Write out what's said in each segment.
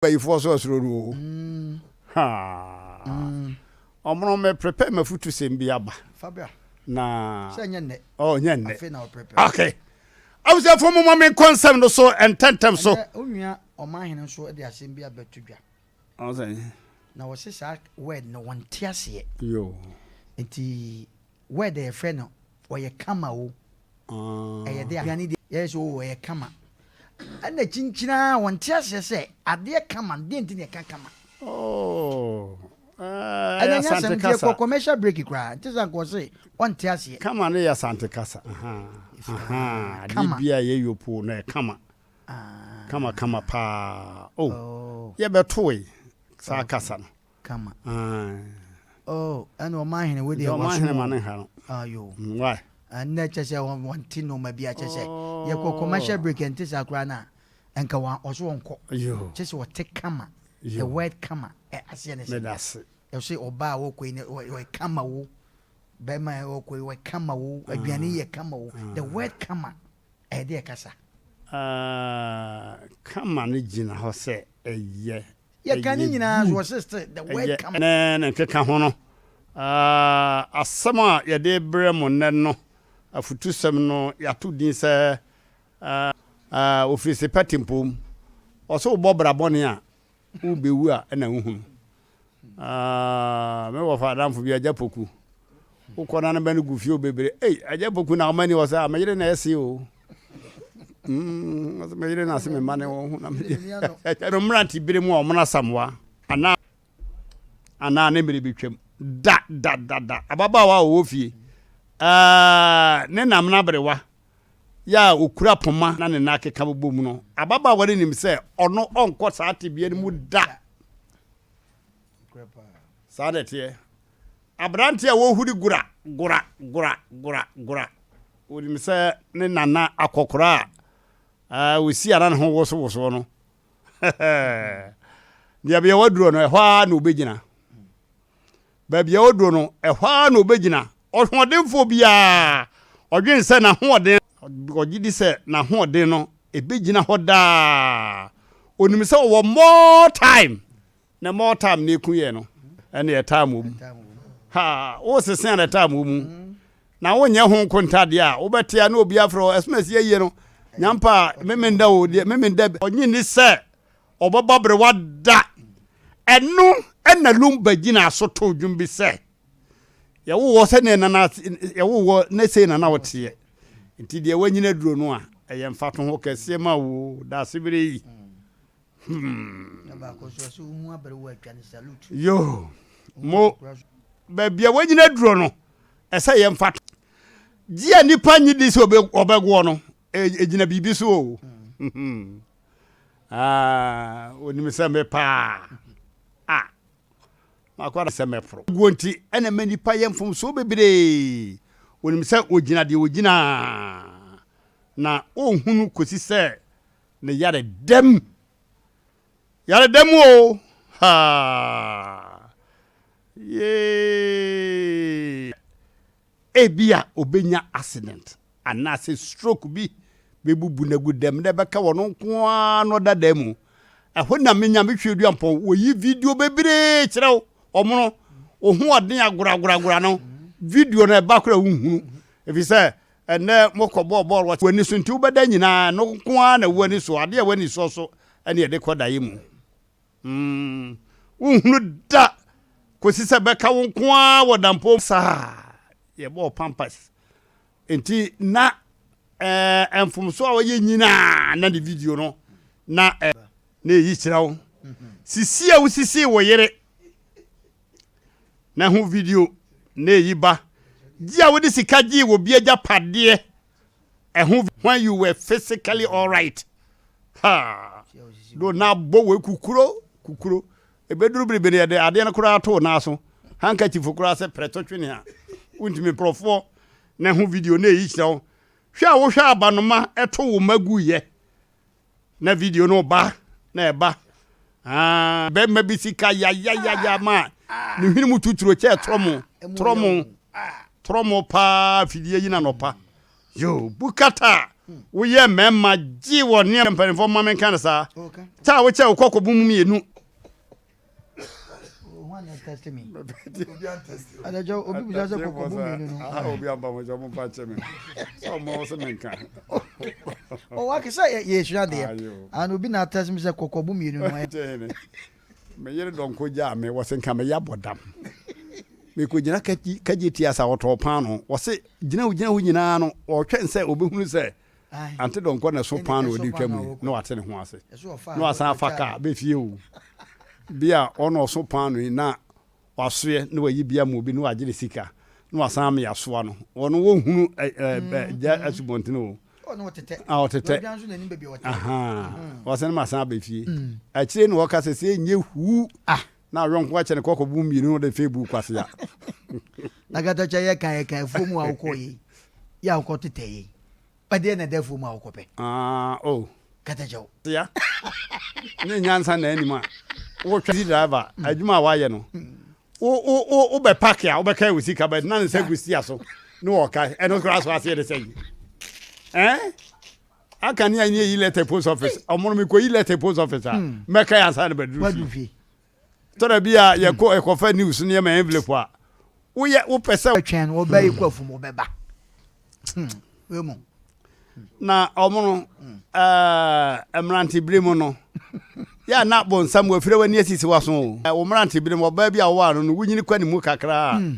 bayifoɔ so ɔsoro no oo haa ɔmono me prepare mafutu sɛm bi aba na oh nyɛ nnɛ ok abusuafoɔ mo ma me nkɔ nsɛm no so ntɛntɛm so onua ɔman hene nso de asɛm bi abɛto dwa na wɔse saa word no wɔnte aseɛ yo nti Word a yɛfrɛ no ɔyɛ kama o, ɛyɛ dɛ a. Aduane deɛ yɛyɛ sɛ o ɔyɛ kama. Ɛna kyinkyin ara wɔnte aseɛ sɛ adeɛ kama no, deɛ nti na yɛka kama? Oh, ɛyɛ Asante kasa. Ɛnyɛ commercial break koraa, nti sɛ anka ɔse ɔnte aseɛ. Kama no yɛ Asante kasa. Adeɛ bi a ɛyɛ yopoo no ɛyɛ kama. Kama kama paa. Oh, yɛbɛtoe saa kasa no. kama. Oh ɛna ɔmanhene wo deɛ waso ɔmanhene ma ne ha no ayo mm, why ɛnɛ kyɛ sɛ wɔnte nnoɔma bi akyɛ sɛ yɛkɔ commercial break ɛnte saa koraa no a nka ɔso ɔnkɔ kyɛ sɛ ɔte kama the word kama aseɛ ne sɛ ɛsɛ ɔba a wɔkɔ yi ne ɔyɛ kama wo bɛrima a wɔkɔ yi ɔyɛ kama wo aduane yɛ kama wo the word kama ɛde ɛkasa kama no gyina hɔ sɛ ɛyɛ Yɛka ne nyinaa nso, wɔse still, the word come. Ɛyɛ ne ne nkekaho no. Asɛm a yɛde rebrɛ mo nnɛ no afutusɛm no, yɛato din sɛ Ofirese pa tempɔn mu. Wɔse wobɔ bra bɔne a, worebɛwu a na wohunu. Me wɔfa adamfo bi, Agya Poku, Wo kɔ na ne bɛ no gu fie o bebre ei agya poku na ɔma ni wɔ sɛ a me yere na ɛse o mm me yere na se me ma ne wɔn ho na me ɛkyɛ no mmerante bere mu a wɔn asamoa ana ana ne mmere betwam da da da da ababaawa a ɔwɔ fie ɛɛ ne nam na berewa yɛ a okura poma na ne nan akeka bobɔ mu no ababaawa no nim sɛ ɔno ɔnkɔ saa tebea no mu da saa na ɛteɛ aberanteɛ a ɔhuri gora gora gora gora gora onim sɛ ne nana akɔkora a ɛɛ osi ara ne ho wosowosoɔ no deɛ bia waduro no ɛhɔ ara na ɔbɛgyina baabi a ɔduro no ɛhɔ ara na ɔbɛgyina ɔhoɔdenfoɔ biara ɔdwene sɛ n'ahoɔden ɔgye di sɛ n'ahoɔden no ɛbɛgyina hɔ daa onim sɛ ɔwɔ more time Na mɔ ɔtaa mene ku yɛ no ɛne ɛtaa mɔ mu ha wo sese a na ɛtaa mɔ mu na wo nyɛ ho nko ntadeɛ a wo bɛte a na obi afrɛ wo ɛsɛ na ɛsi yɛyie no nyampa memenda o deɛ memenda ɔnye ni sɛ ɔbɛbɔ aberewa da ɛno ɛna lumba gyina so to dwom bi sɛ yɛwowɔ sɛdeɛ nana yɛwowɔ ne sei nana woteɛ nti deɛ wanyina duro no a ɛyɛ mfato ho kɛseɛ ma wo daase bere yi yo mo baabi a wanyina duro no ɛsɛ yɛn fa gye a nipa nye di sɛ ɔbɛgoɔ no ɛgyina e, biribi so o onim sɛ me paa a makwada sɛ mɛforo guo nti ɛna ma nipa yɛ mfomsoɔ bebree onim sɛ ogyina deɛ ogyina na ɔnhunu kɔsi sɛ ne yare da mu. Yare da mu o! Ha! Yee! Ebia obenya accident anaasɛ stroke bi bebubu no agu dam na ɛbɛka wɔn nko ara na ɔda dan mu. Ɛhɔ na me Nyame Tweaduampɔn wɔyi video bebree kyerɛ wo. Wɔn no, wo ho ɔden agoragoragora no, video no ɛba koraa wonhunu. Ɛfiri sɛ, Ɛnnɛ mokɔbɔɔ bɔɔl wɔ w'ani so nti wobɛda nyinaa ɛno nko ara na w'ani so, adeɛ a w'ani sɔ so ɛne ɛde kɔ daeɛ mu. Mm, wonhunu da kɔsi sɛ bɛka wo nko ara wɔ dampɔm. Saa, yɛbɔɔ pampers nti na ɛɛ mfomso a ɔyɛ nyinaa na ne video no na ɛ, na ɛyi kyerɛ wo sisi a wosisii wo yere. Na hu video na eyi ba. Gye a wode sika gyee wɔ obi agyapadeɛ ɛho when you were physically alright. Ha! Do na abɔ wei kukuro kukuro. Ebeduru biribi no yɛde adeɛ no koraa to wo nan so. Handkerchief koraa sɛ prɛto twene a. Wontumi nkurɔfoɔ na hu video na eyi kyerɛ wo. Hwɛ a wohwɛ abanoma ɛto wo mma guiɛ. Na video no ba na ɛba aa bɛrima bi sika yayayaya ma ne hwene mu tuturo kyɛ trɔmo trɔmo trɔmo paa fidie yi na nɔpa yo bukata woyɛ mmarima gye wɔ nneɛma mpanimfoɔ mma menka no saa taa wokyɛ wokɔ kɔbo mu mmienu meyere dɔnkɔ gyaa me wɔse nka meyɛ abɔdam mekɔgyina kagye ti asa wɔtɔɔ paano wɔse gyina wo gyina wo nyinaa no wɔtwɛn sɛ wɔbɛhunu sɛ Ante Donkor na ɛso paa na ɔde retwa mu yi na wate ne ho ase na wasan afa kaa bɛ fie o. Bia a ɔno ɔso paa no yi na wasoɛ na wayi bia ma obi na wagye ne sika na wasan ame asoa no. Ɔno wɔnhunu gya asubɔntene o. A ɔtetɛ. Ahaa. Wasan ma asan aba fie. Akyire na ɔka sɛ sɛ ɛnyɛ huu. Na ɔyɔnko akyɛ no kɔkɔ bu mmienu na ɔde fee buu Kwasea. Na Katakyɛ yɛ kae kae afuo mu a wokɔɔ yei yɛ a wokɔ tetɛ yei. Ɛdeɛ na ɛda afuo mu a wokɔ pɛ. Ah oh. Katakyɛ wo. Sia. Ne nyansa na anim a. Wo taxi driver hmm. adwuma a wayɛ no. Hmm. Wo wo wo wo bɛ park a wobɛka ɛwɔ sika bɛ na ne nsa gu sia so. Ne wɔka ɛno koraa so aseɛ de sɛ yi. Eh? aka ne anyɛ yi letter post office ɔmono me kɔyi letter post office a hmm. mɛka yɛ ansa na bɛduru fie tɔda bi a yɛkɔ hmm. ɛkɔfa news no yɛma envelope a woyɛ wopɛ sɛ twɛn no wɔbɛyi hmm. kɔ afum wɔbɛba wemu na ɔmono mmerantebere mu no yɛ na bɔnsam wafiri w'ani asisi w'aso o wo mmerantebere mu ɔbaa bi a wɔwɔ ano no wonyini kɔ ne mu kakra a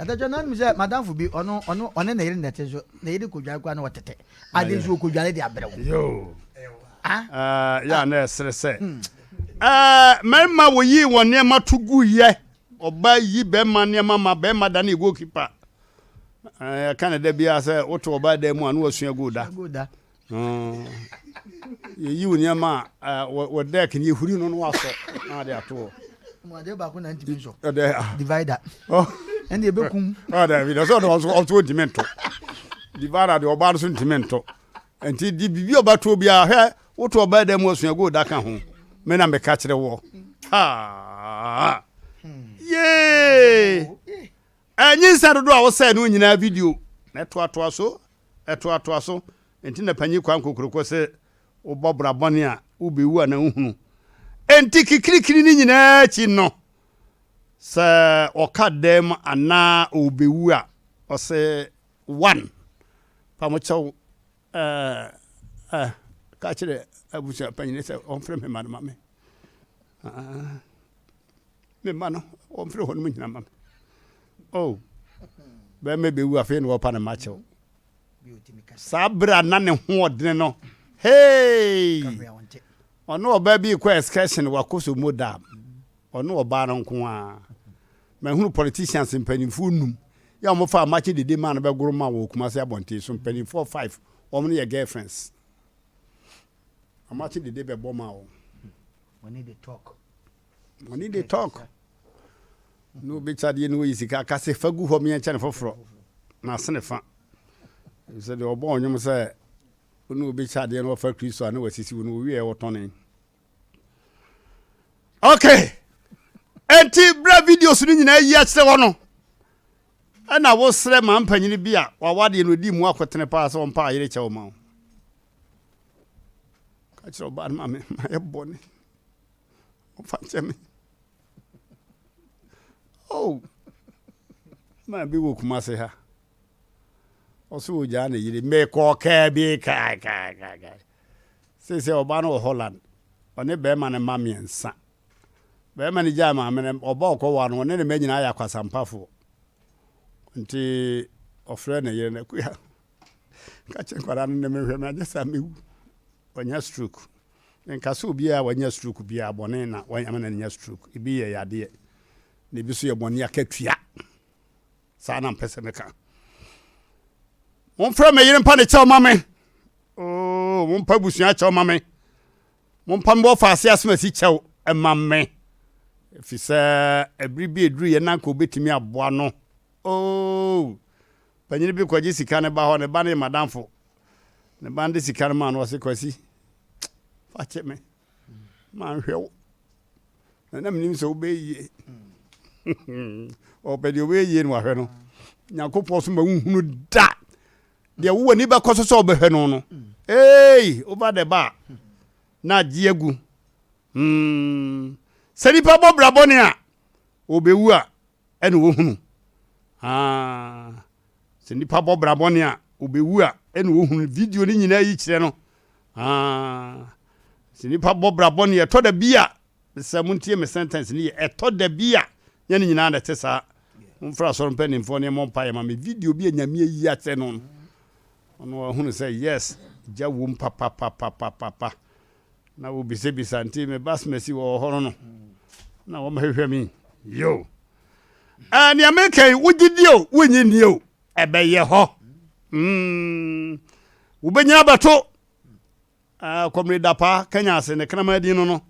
Adagya no anim sɛ madamfo bi ɔno ɔno ɔne ne yere na ɛte so ne yere kɔdware koraa na ɔtete ade nso ɔkɔdware de abrɛ wo yoo ah? ah yɛ a na ɛsere sɛ hmm. eh, mmarima wɔyii wɔn nneɛma to gu yɛ ɔba yi bɛrima nneɛma ma bɛrima da ne goalkeeper ɛka eh, ne da biara sɛ woto ɔba dan mu a na wasua goal da Hoo, yɛyi wo nneɛma a wɔ deck no yɛhuri no no wasɔ na wade ato hɔ. Mo adeɛ baako na ntumi nsɔ. Ɛdɛ ah. Divider. Oh. Ɛnna ebekum. Ɔɔ dɛbi dɛ sɛ ɔde ɔso ɔso ntumi nto. Divider de ɔbaa no so ntumi nto. Nti di bibi ɔbɛto biara hwɛ woto ɔbaa dɛ mu osua gold aka ho. Me na meka kyerɛ wɔ. Haa. Hmm. Yee. Nyinsɛn dodoɔ a wosɛe no nyinaa video na ɛtoatoa so, ɛtoatoa so, enti na Panyin Kwame Kokroko se wobɔ bra bɔne a, wobewu anaa wohunu. Enti kikirikiri no nyinaa akyi no, sɛ ɔka dan mu anaa ɔrebewu a, ɔse one, fa mo kyɛw eh, eh, ka kyerɛ abusua panyin sɛ ɔmfrɛ me mma no ma me. Ah. me mma no wɔmfrɛ hɔnom nyina ma me oh bɛrima bɛwu afei na wɔpa no ma kyɛw saa berɛ a na ne hoɔdene no hei ɔne ɔbaa bi kɔ excursion wakɔ so mu da ɔne ɔbaa no nko a mahunu politicians mpanimfoɔ num yɛ wɔn fa amakye dede maa no bɛgoro ma wɔ okuma se abɔnten so mpanimfoɔ five wɔn no yɛ girlfriends amakye dede bɛbɔ ma wɔn. wɔn ne de talk. Money dey talk. Na obi kye adeɛ na oyi sika ka sɛ fa gu hɔ meɛ kyɛ ne foforɔ. Na asene fa. Sɛ deɛ ɔbɔ ɔnwom sɛ wone obi kye adeɛ na ɔfa Kristo a na wasisi wo no ɔwieɛ wɔtɔne. Okay. Enti berɛ videos no nyinaa yi akyerɛ hɔ no ɛna wosrɛ ma mpanyini bi a wawadeɛ no ɔdi mu akotene paa sɛ ɔmpa ayere kyɛ wo ma wo. Ka kyerɛ ɔbaa no ma me ma yɛ bɔne. ɔmfa nkyɛ me oh maa bi wɔ kumase ha ɔso ogyaa ne yere mekɔ kaa bi kaakaakaaka sei sɛ ɔba no wɔ holland ɔne bɛrima no ma mmiɛnsa bɛrima no gyaa maame no ɔba ɔkɔwa no ɔne ne ma nyinaa yɛ akwasampafoɔ nti ɔfrɛ ne yere no akuya ka kyɛ nkwadaa no ne mehwɛ me anyɛ saa mewu ɔnya stroke Menka sɛ obiara a wanya stroke biara bɔne na wɔayɛ ma no anya stroke. Ebi yɛ yadeɛ, na ebi nso yɛ bɔne akatua. Saa na mpɛ sɛ meka. Momfrɛ me yere mpa ne kyɛw ma me. Oo, mompa abusua kyɛw ma me. Mompa me wɔfa ase asomasi kyɛw ma me. Ɛfiri sɛ ɛbere bi ɛduru yɛ na nka obɛtumi aboa no. Oo, panyini bi kɔgye sika ne ba hɔ, ne ba ne yɛ madamfo. Ne ba no de sika no maa no ɔse Kwasi fa kyɛ me ma nhwɛ wo na na menim sɛ wobɛyɛ yie ɔpɛ deɛ wobɛyɛ yie no wahwɛ no nyankopɔn so ma wohunu da deɛ wowɔ ni bɛkɔ so sɛ wobɛhwɛ no no ei over the bar na agye agu hmm. sɛ nipa bɔ bra bɔne a wɔbɛwu a ɛna ɔhunu. Aah sɛ nipa bɔ bra bɔne a ɔbɛwu a ɛna ɔhunu. Video no nyinaa yi kyerɛ no. Aah sɛ nipa bɔ bra bɔne ɛtɔ da bi a mesɛ mo ntie me sentence no yɛ ɛtɔ da bi a nyɛ ne nyinaa na ɛte saa. Momfrɛ asɔre mpanimfoɔ ne ɛmɔ mpaeɛ ma me video bi a nyame ayi akyerɛ no no ɔno ɔhunu sɛ yes gya wom papapapapapa. Na wobisabisa nti me basmasi wɔ hɔ no na wɔn hwehwɛ mi yo ɛɛ nea meka yi wogye die o wonyi nie o ɛbɛyɛ hɔ mm wobɛnyina abɛto ɛɛ kɔmire dapa kanya ase ne kraman din no no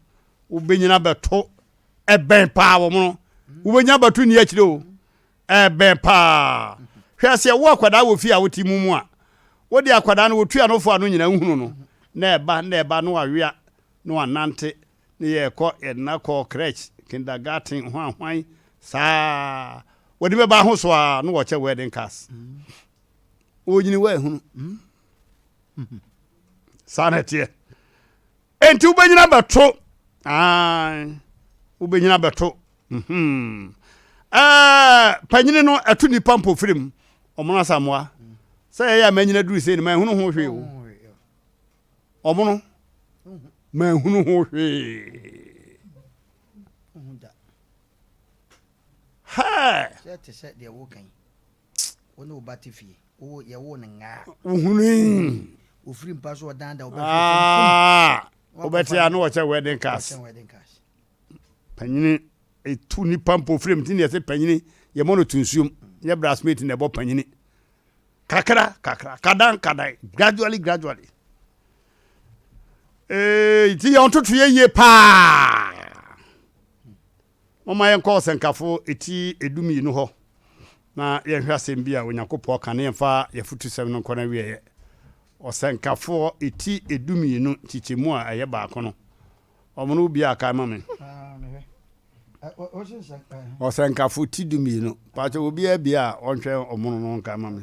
wobɛnyina abɛto ɛbɛn paa wɔn no wobɛnyina abɛto ni akyire o Ɛbɛn paa. Hwɛ sɛ ɛwɔ akwadaa wɔ fie a wote mu mu a, wode akwadaa no wotua no fo a no nyina nhunu no, na ɛba na ɛba na wawea na wanante na yɛkɔ yɛde no akɔ crèche, kindergarten, hwan hwan saa wɔde bɛba ahoso a na wɔkyɛ wedding cars. Wɔnyini wɔahunu. Saa na ɛteɛ. Enti wobɛnyini abɛto. Ae, wobɛnyini abɛto. Mm-hmm. Eh, panyini no ɛto nipa mpofirim ɔmono asamoa sɛ yɛyɛ a manyina duru sei no manhunu ho hwee o ɔmono manhunu ho hwee hɛ Wo ne wo ba te fie. Wowɔ yɛwoo no ngaa. Wohunui. Ofiri mpa so ɔdan da ɔbɛhwɛ fam fum. Aa wobɛte a na wɔkyɛ wedding cars. Wɔkyɛ wedding cars. Panyini etu nipa mpo ofiri mu ti na yɛte panyini yɛmɔ no to nsuom nyɛ brassmate na ɛbɔ panyini kakra kakra kadan kadan gradually gradually ee ti yɛ ɔntoto yɛ yie paa. Momma yɛnkɔ Ɔsɛnkafo ti du mmienu hɔ na yɛnhwɛ asɛm bi a Onyankopɔn ka na yɛmfa yɛn afutusɛm no nkɔ n'awieɛ. Ɔsɛnkafo ti du mmienu nkyekyɛmu a ɛyɛ baako no, wɔn no wobiaa kan ma me. Ɔsɛnkafo ti du mmienu, pakyɛ obiaa bie a ɔnhwɛ wɔn no nkan ma me.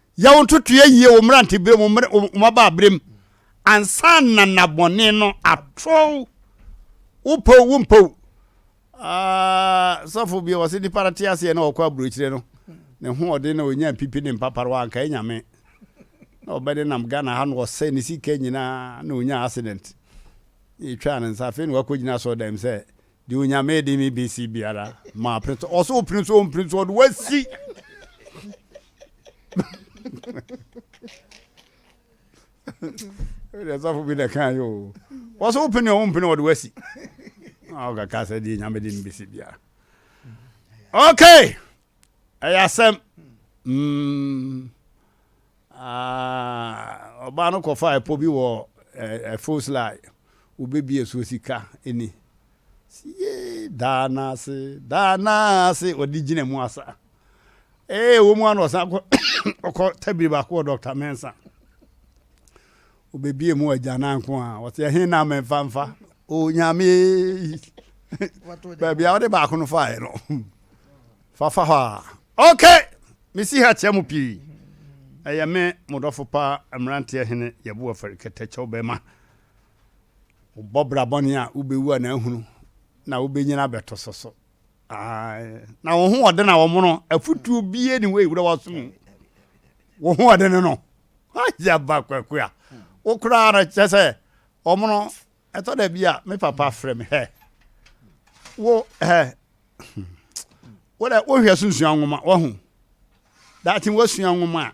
Yɛ wo ntotoeɛ yie wo mmeranteberɛ mu, wo mmabaaberɛ mu, ansa na nna bɔne no ato wo. Wopɛ o, wompɛ o. Ah, sɔfo bi ɔse nipa no te aseɛ na ɔkɔ aburokyire no, ne ho ɔden na ɔnya pipi ne mpaparewa anka ɛnyame. Na ɔbɛ ne nam Ghana ha na ɔsɛ ne sika nyinaa na ɔnya accident. Na ɛtwaa ne nsa, afei na wakɔgyina asɔɔdan mu sɛ Deɛ Onyame de me bɛsi biara maa pene so. Ɔsɛ ɔpene so ɔmpene so ɔde wasi. Deɛ sɔfo bi na kan yɛ o. Ɔsɛ ɔpene ɔmo mpene ɔde wasi. Ɔkaka sɛ deɛ Onyame de me bɛsi biara. Okay. Ɛyɛ asɛm! Mm. Ah, ɔbaa no kɔfa ɛpɔ bi wɔ ɛfos lai, wobɛbie so sika ni. Siye, daa no ase, daa no ase, ɔde gyina mu asa. Ee, wɔ mu ano ɔsan kɔ ɔkɔ tabiri baako wɔ Dr. Mensa. Wobebue mu agyanan nko a. Wɔte ɛhe na memfa mfa? Onyame yi. Baabi a wode baako no faeɛ no. Fafa hɔ a. Okay! Mesi ha kyɛ mo pii. Ɛyɛ me mo dɔfo paa mmeranteɛ hene yɛbo afari kɛtɛkyɛw bɛma. Wobɔ bra bɔne a wobɛwu a na ahunu na wobɛnyini abɛtoso so. na wɔn ho ɔden a wɔn no afutuo bie ne wɔyi wura wɔsom wɔn ho ɔden no agye aba kwaku a wokoraa no kyɛ sɛ wɔn no ɛtɔ da bi a me papa frɛ me hɛ wo hɛ wodɛ wohwɛ so nsua nwoma wahu daakye wasua nwoma a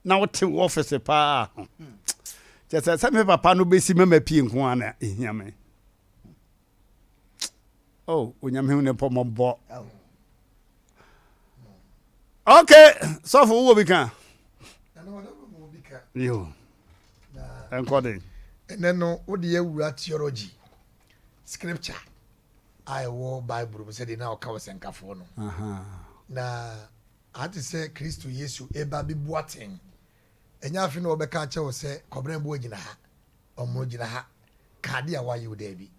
na wote wɔ ɔfese paa kyɛ sɛ sɛ me papa no bɛsi mɛma pie nko a na ɛhia me oh onyame hu ne pɔ mɔbɔ ok sɔfo wowɔ bi ka yo ɛnkɔ den ɛnɛ no wode yɛwura theology scripture a ɛwɔ bible mu sɛdeɛ na ɔka wɔ sɛnkafoɔ no na ate sɛ kristo yesu ɛba bɛbu aten ɛnyɛ afe na wɔbɛka akyɛ wo sɛ kɔbrɛ mboa gyina ha Ɔmono gyina ha ka ade a wayɛ o, daabi.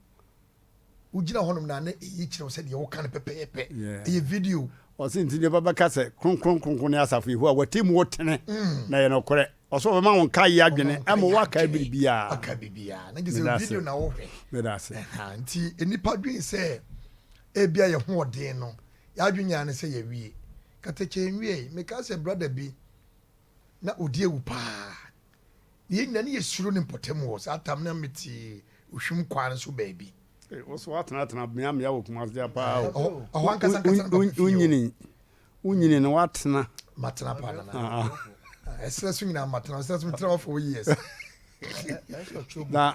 Wogyina hɔnom na na eyi kyerɛ wo sɛ deɛ woka no pɛpɛɛpɛ. Ɛyɛ video. Ɔse, Nti nnipa bɛka sɛ, Kronkron, kronkron ne asafo Yehowa, w'atemmuo tene na ɛyɛ nokorɛ. Ɔse ɔbɛma wo nkaeɛ adwene ma woakae biribiara. Wakae biribiara. Na gye sɛ video na wohwɛ. Meda ase. Ɛhaa, nti nnipa dwen sɛ ebia yɛn hoɔden no, yɛadwen nyinaa ne sɛ yɛawie. Katakyɛ nwiei. Mekaa sɛ brada bi na ɔdi awu paa. Na yɛn nyinaa, na yɛsuro ne mpɔtam wɔ saa tam no, na mete Ohwim Kwaa no so baabi. Ei, wo so woatenatena mmeammea wɔ Kumase de apaa Ɛɛ, o. ɔhɔ- ɔhɔ ankasa ankasa na Wo- mapɛ fie o. Wonyini, wonyini na woatena. Matena paa, Nana. Ah, ah. Ɛserɛ so nyinaa matena. Ɛserɛ so, metena hɔ for years. Na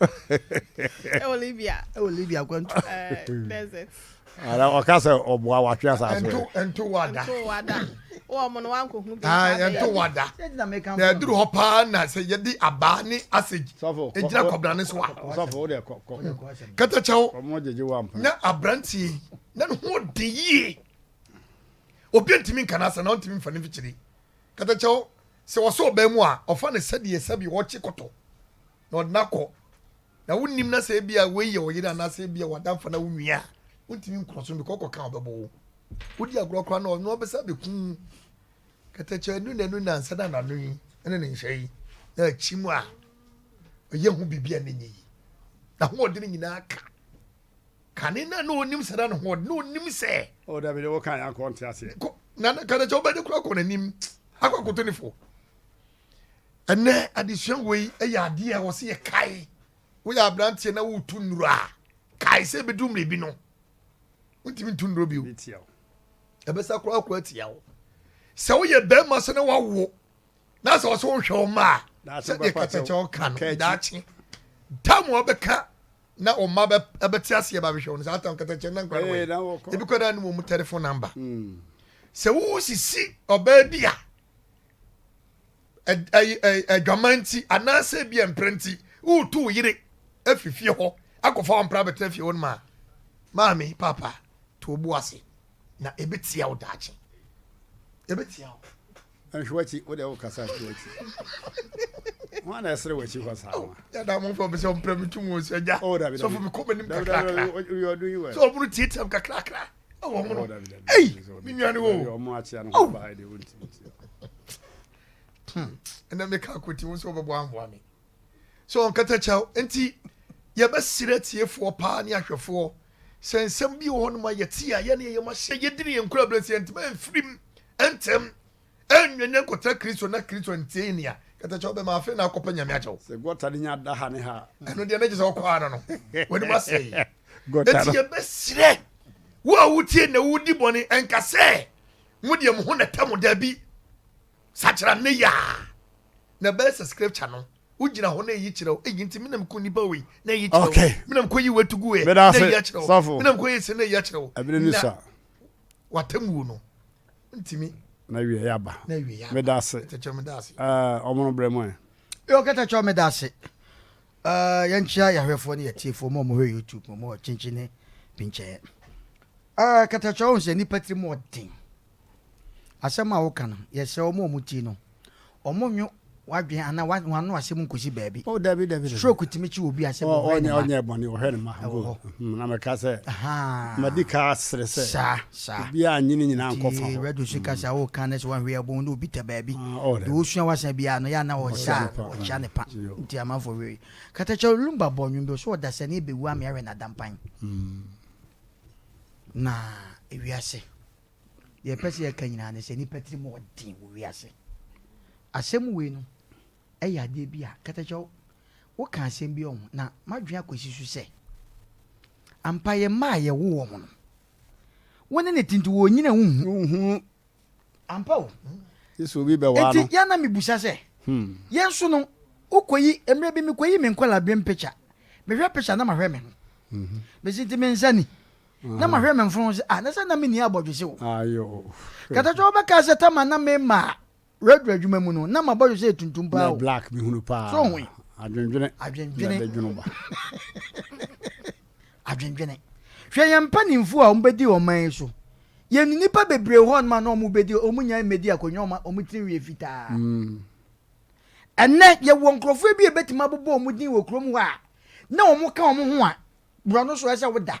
ɛwɔ libya ɛwɔ libya akwantu desert ara ɔka sɛ ɔboa watwe asase ɛnto ɛnto wada ɛnto wada wɔn mo no wankɔ hu bi aa ɛnto wada na ɛduru hɔ paa na sɛ yɛde abaa ne asage egyina kɔbla ne so a sɔfo o de kɔ kɔ katakyɛw ɔmo gyegye wa mpa na abranteɛ na ne ho de yie obi ntumi nka n'asɛ na ɔntumi nfa ne mfikyiri katakyɛw sɛ wɔsɔ ɔbɛn mu a ɔfa ne sɛdeɛ sɛbi wɔkye kɔtɔ. na ɔde no akɔ na wonnim na sɛ ebi a wei yɛ ɔyere anaasɛ ebi a wadamfo na wonua a wontumi nkɔ so because ɔkɔka ɔbɛbɔ wo wodi agorɔ koraa na ɔno ɔbɛsa bɛkum kɛtɛkyɛ anu na anu na nsa na n'ano yi ne ne nhyɛ yi na akyi mu a ɔyɛ ho biribi a ne nyɛ yi na hoɔden nyinaa ka kane na na ɔnim sɛ na ne hoɔden na ɔnim sɛ ɔdabɛdɛ oh, wɔka yɛ akɔ nte aseɛ na kɛtɛkyɛ wobɛde kora kɔ n'anim akɔ akoto ne fo Ɛnɛ adesua wei yɛ adeɛ a wɔsɛ yɛ kae. Woyɛ aberanteɛ na wotu nnuro a, kae sɛ ebedu mmerɛ bi no, wontumi ntu nnuro bio. Ɛbɛsa koraa akɔ atia wo. Sɛ woyɛ barima sɛ na wawo na sɛ ɔsɛ wohwɛ wo mma a, sɛdeɛ kɛtɛkyɛw ka no, daakye tam a ɔbɛka na ɔma bɛte aseɛ ba bɛhwɛ wo no, saa tam kɛtɛkyɛw na nkora no wɔ ebi kɔ da no wɔ mu tɛlefon namba. Hmm. Sɛ wosisi ɔbaa bi a, adwaman nti anaasɛ bi mpere nti woretu wo yere afi fie hɔ akɔfa wo mpra bɛtena fie hɔ no ma maame papa to wo bo ase na ɛbɛtia wo daakye ɛbɛtia wo nhwe wakyi wo deɛ wokasa hwe wakyi ho ana ɛserɛ wakyi hɔ saa oh, yɛda mo mfa bɛsɛ ɔmprɛ me tum wɔ sɛ agya oh, sɔfo mekɔ m'anim kakrakra sɛ ɔmono tiatiam kakrakra ɛwɔ ho no ei me nnuane wo ɛnɛ meka akɔti wo sɛ wobɛboa amboa me sɛ ɔnkata kyɛw nti yɛbɛserɛ tiefoɔ paa ne ahwɛfoɔ sɛ nsɛm bi wɔ hɔ noma yɛte a yɛne yɛyɛ mahyɛ yɛdini yɛnkura berɛ sɛ yɛntema mfirim ntɛm Ɛnnyɛ nea nkɔtra Kristo na Kristo ntie nea kɛtɛ kyɛw bɛma afei na akɔpɛ Nyame akyɛw. Sɛ gɔta no nya da ha ne ha a. Ɛno deɛ na gye sɛ ɔkɔ ano no w'anim asɛe. Enti yɛbɛsrɛ wo a wotie na wodi bɔne ɛnka sɛ mo deɛ mo ho nɛtɛ mo daabi. Sakyera nnɛ yi ara na ɛbɛyɛ sɛ scripture no wogyina hɔ na ɛyi kyerɛ wo eyi nti menam ko nipa wei na ɛyi kyerɛ wo menam kɔ yi watu gu ɛ na ɛyi akyerɛ wo menam kɔ yɛ sɛ na ɛyi akyerɛ wo na watamuo no Ntimi. Na wiɛ ya ba. Na wiɛ ya ba. Meda ase. Kɛtɛkyɛw meda ase. Ɛɛ ɔmo no brɛ mu ɛ. Yo Kɛtɛkyɛw meda ase. Ɛɛ yɛn kyia yɛ ahwɛfoɔ ne yɛ tiefoɔ mo a ɔmo hwɛ YouTube mo mo wɔ kyenkyen ne pinkyɛɛ. Ɛɛ Kɛtɛkyɛw ɔhu sɛ nipa tiri mu ɔden. Asɛm a woka no yɛ srɛ ɔmo a ɔmo tie no. wɔnwo w'adwene anaa wɔn ano asɛm nkosi baabi. o oh, dabi dabi dabi stroke tumi kyi obi asɛ bɔ ɔhwɛ ne ma ɔnyɛ bɔne ɔhwɛ ne ma ɛwɔ hɔ hmm, na mɛka sɛ madi ka asere sɛ saa saa obi a nyini nyinaa nkɔ fa hɔ radio so kasa hmm. o kan ne sɛ wɔn hwɛ ɛbɔn ne obi tɛ baabi ah, oh, de osua wasa bi ano yɛ ana ɔsa ɔkyia ne pa hmm. nti amanfo wei katakyɛ lumba bɔ nwom bi so ɔdasa ne ebewu ame awɛ na dampan na ewiase. Deɛ ɛpɛ sɛ yɛka nyinaa ne sɛ nipa tiri mu ɔden wɔ wiase. Asɛm wei no ɛyɛ adeɛ bi a katakyɛ woka asɛm bi ɔho na madwene akɔsi so sɛ ampa yɛ mma a yɛwo wɔn no wo ne ne tinti wɔ nyina wohu ampa o nti yɛ na mebusa sɛ hmm. yɛn nso no wokɔyi mmerɛ bi mekɔyi me nkɔla berem picture mehwɛ picture na mahwɛ me ho mesi mhm. nti mensani na mahwɛ me mfono ho sɛ, Ah, na sɛ na minni abɔdwesɛ o! Kɛtɛtɔ wobɛkae sɛ tam a na mema radio adwuma mu no, na m'abɔdwesɛ yɛ tuntum paa o! So hu yi? Adwendwene. Adwendwene. Hwɛ yɛn mpanyimfo a wɔbedi ɔman yi so. Yɛn nnipa bebree wɔ hɔnom a na wɔbedi, wɔnyae mmedi akonnwa a wɔn tirinwi yɛ fitaa. Ɛnnɛ, yɛwɔ nkurɔfo bi a ebetumi abobɔ wɔn din wɔ kurom hɔ a na wɔka wɔn ho a Borɔ no so ɛsɛ woda.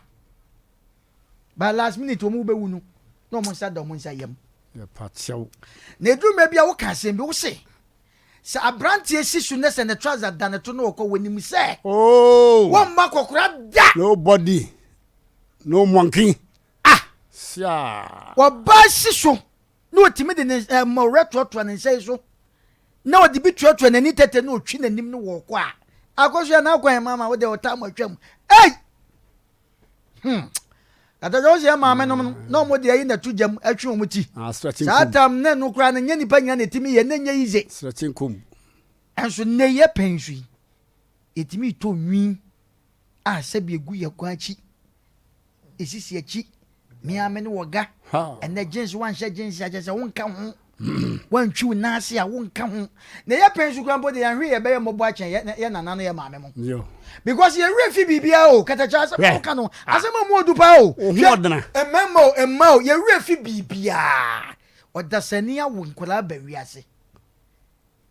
By last minute wɔn wobɛwu no na wɔn nsa da wɔn nsa yam. Yɛpakyɛw. Na eduru mɛ bi a woka asɛm bi wose sɛ aberanteɛ si so ne sɛ ne trouser da ne to na ɔkɔ wɔnim sɛ oh. wɔn mma kɔkora da. Nobody no monkey. Ah. Siaa. Wɔbaa si so. na otumi de ne mmɔwerɛ toatoa ne nsa yi so, na ɔde bi toatoa n'ani tɛtɛ na ɔtwi n'anim no wɔ ɔkɔ a, akɔsoɛ na akɔ yɛ maama wo deɛ ɔtaa mo atwam. Ei! Hmm. Kataja wo sɛ yɛ maame nom no, na ɔmo de ayi na to gyam atwe ɔmo ti. Ah, Saa tam ne no koraa no nyɛ nipa nyina na ɛtumi yɛ, na nyɛ yize. Srɛkye nkom. Ɛnso nnɛ yɛ pɛn so yi, ɛtumi tɔ nwi A sɛbi egu yɛ kwan akyi. Esisi akyi, me ara me ne wɔ ga. Ɛnɛ jeans wanhyɛ jeans a kyerɛ sɛ wonka ho. Wantwi wo nan ase a wonka ho. Na yɛ pɛn so kura mpo de yɛn hwee yɛbɛyɛ mmɔbɔ akyɛn yɛ yɛ nana ne yɛ maame mo. Because yɛ werɛ fi biribiara o katakyɛ asɛm a woka no asɛm a mu odu paa o. Hwɛ mmarima o mma o yɛ werɛ fi biribiara. Ɔdasani awo nkwadaa ba wiase.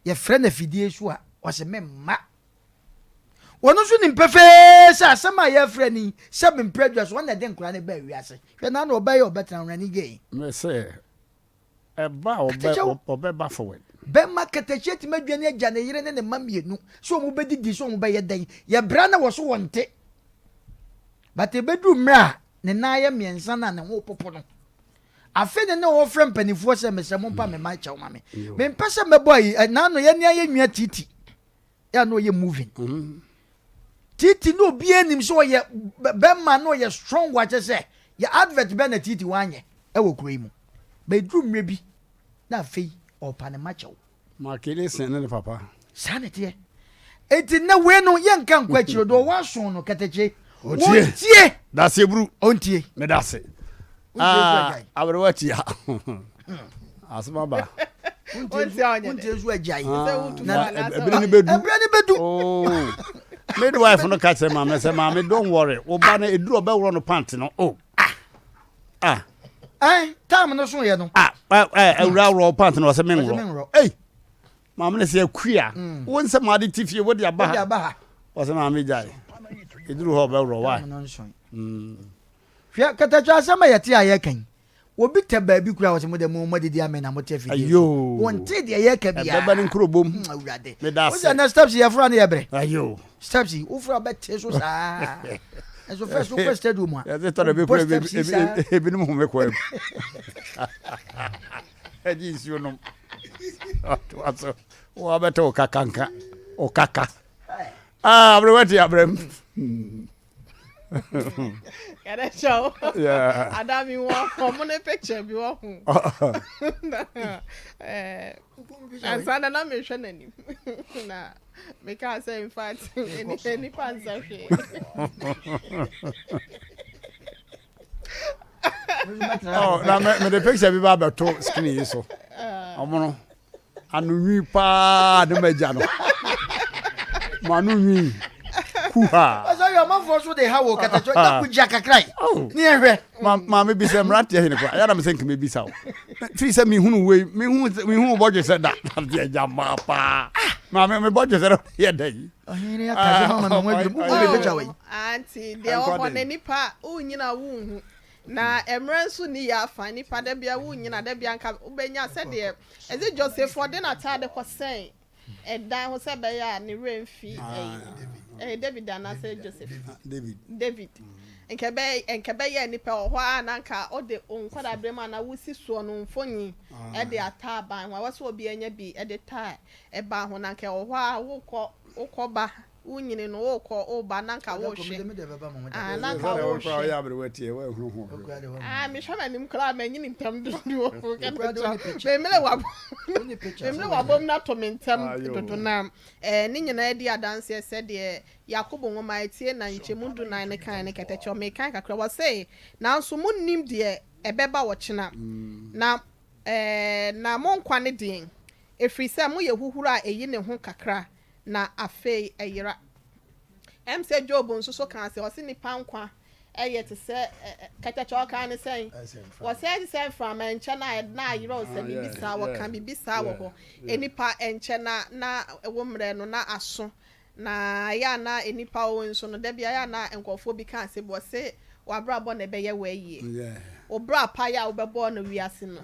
Yɛfrɛ no afidie so a ɔse me mma. wɔn nso nim pefee sɛ asɛm a yɛrefrɛ no yi sɛ mempere dwa so wɔn na ɛde nkora no baa wiase hwɛ na na ɔbɛyɛ ɔbɛtena wɔn ani gye me sɛ ɛba a ɔbɛba forward bɛma katahyia atumi adwane agya ne yere ne ne mma mmienu sɛ wɔn bɛdidi sɛ wɔn bɛyɛ dɛn yɛbra na wɔ so wɔn te but ɛbɛduru mmerɛ a ne nan yɛ mmiɛnsa no a ne ho popo no afe ne ne wɔfrɛ mpanimfoɔ sɛ mesɛ mompa me ma kyɛw ma me mempɛ sɛ mɛbɔ ayi na ano yɛne ayɛ nwia titi yɛ na ɔyɛ moving titi na obi anim sɛ ɔyɛ bɛma na ɔyɛ strong wakyɛ sɛ yɛ advert bɛ na titi wanyɛ ɛwɔ kuro yi mu bɛduru mmerɛ bi na afei ɔpa ne ma kyɛw makele sɛn ne ne papa saa ne teɛ eti na wei no yɛnka nkɔ akyire do ɔwɔ aso no kɛtɛkye wontie daseɛ buru ɔntie meda ase aberewa tia asɛm aba wontie so agyae ɛberɛ no bɛdu ɛberɛ no bɛdu midwife no ka kyerɛ maame sɛ maame don't worry wo ba no ɛduru ɔbɛworɔ no pant no o oh. ah. ah. eh, tam no so yɛ no ah, eh, eh, awura worɔ pant no ɔsɛ menworɔ Maame no sɛ akua, wo nsɛm ade te fie wode aba ha. Ɔsɛ maame gyae. Ɛduru hɔ ɔbɛworɔ wae. Hwɛ katakyi asɛm a yɛte a yɛka yi. Obi tɛ baabi kura wɔ sɛ mo dɛ mo mo didi amɛ na mo tɛ fidie so. Wɔn te deɛ yɛ kɛ bia. Ɛbɛbɛ ne nkuro bom. Hmm, awurade. Meda se. Wosɛ na steps yɛ fura ne yɛ brɛ. Ayo. Steps yi wofura bɛ te so saa. Ɛso fɛ so kɔ stadium a. Yɛte tɔ na ebi kura ebi ebi ebi ne mu home kɔ ɛmu. Gye nsuo nom. Toa so. Wabɛtɔ wo kakanka. Wo kaka. Ah, abrɛ wati abrɛ mu. Yɛdɛ kyɛ wo. Ada mi wɔ ɔmo ne picture bi wɔ ho. Ansa na na mehwɛ n'anim. Na mekaa sɛ in fact nipa nsɛ hwee. oh, na me me de picture bi ba abɛto screen yi so ɔmo no ano nwi paa ne ma gya no mo ano nwi kuha. ɛsɛ yɛ ɔmanfoɔ so de ha wɔ katakyo na ko gya kakra yi oh. ne ɛhwɛ maame bi sɛ mmara teɛ hene kora ɛyɛ na me sɛ nkama bi sa wo firi sɛ mehunu wei mehu bɔdwe sɛ da adeɛ gya maa paa maame mebɔdwe sɛ no yɛ dɛ yi Ɔhene yi aka asɛm ama me ho adwiri. Mugu me bagya wɔ yi. Aunty, deɛ ɔhɔ no nipa wonyina wonhu. Na mmerɛ nso ni yɛ afa nipa da bia wonyina da bia nka wobɛnya sɛdeɛ ɛsɛ Joseph ɔde n'ataade kɔ sɛn ɛdan ho sɛ ɛbɛyɛ a ne werɛ mfi ɛyi David anaasɛ Joseph David nka ɛbɛyɛ nipa wɔ hɔ a na nka ɔde wo nkwadaa berɛ mu anaa wosi soɔ no mfoni ɛde ata aban ho a wɔsɛ obi anya bi ɛde taa Ɛbaa ho, na anka ɛwɔ hɔ ara, wokɔ, wokɔba, wonyini no, wokɔ, woba, na anka worehwɛ. Aah, na anka worehwɛ. Sɛ wokora woyɛ aberewa tiɛ, woanhunu ho hwee. Aah, mehwɛ m'anim koraa a, manyini ntɛm dodo no o, kɛkɛ no kyerɛ, memmene w'abam, memmene w'abam no ato me ntɛm dodo no a. Ɛɛ, ne nyinaa di adanseɛ sɛ deɛ Yakobo nwoma a ɛtie na nkyɛmu dunan no kae no kɛtɛ kyerɛ. Mekan kakra, wɔse, Nanso monnim deɛ ɛbɛba ɔkyena, na, ɛɛ, na mo nkwa ne deɛn? Ɛfiri sɛ moyɛ huhuro a ɛyi ne ho kakra, na afei ɛyera. Ɛm sɛ Job nso so kaa sɛ, ɔse nnipa nkwa yɛ te sɛ kɛtɛkɛ a ɔkaa ne sɛn? Ɔse ɛte sɛ mframa nkyɛn a na ayera o, sɛ biribi saa, ɔka biribi saa wɔ hɔ, nnipa nkyɛn a na wo mmerɛ no na aso Na ɛyɛ a na nnipa o nso no, da biara na nkurɔfoɔ bi ka asɛm bi, wɔse, W'abrabɔ na ɛbɛyɛ wo ayie. Wo bra pa yi a wobɛbɔ no wiase no,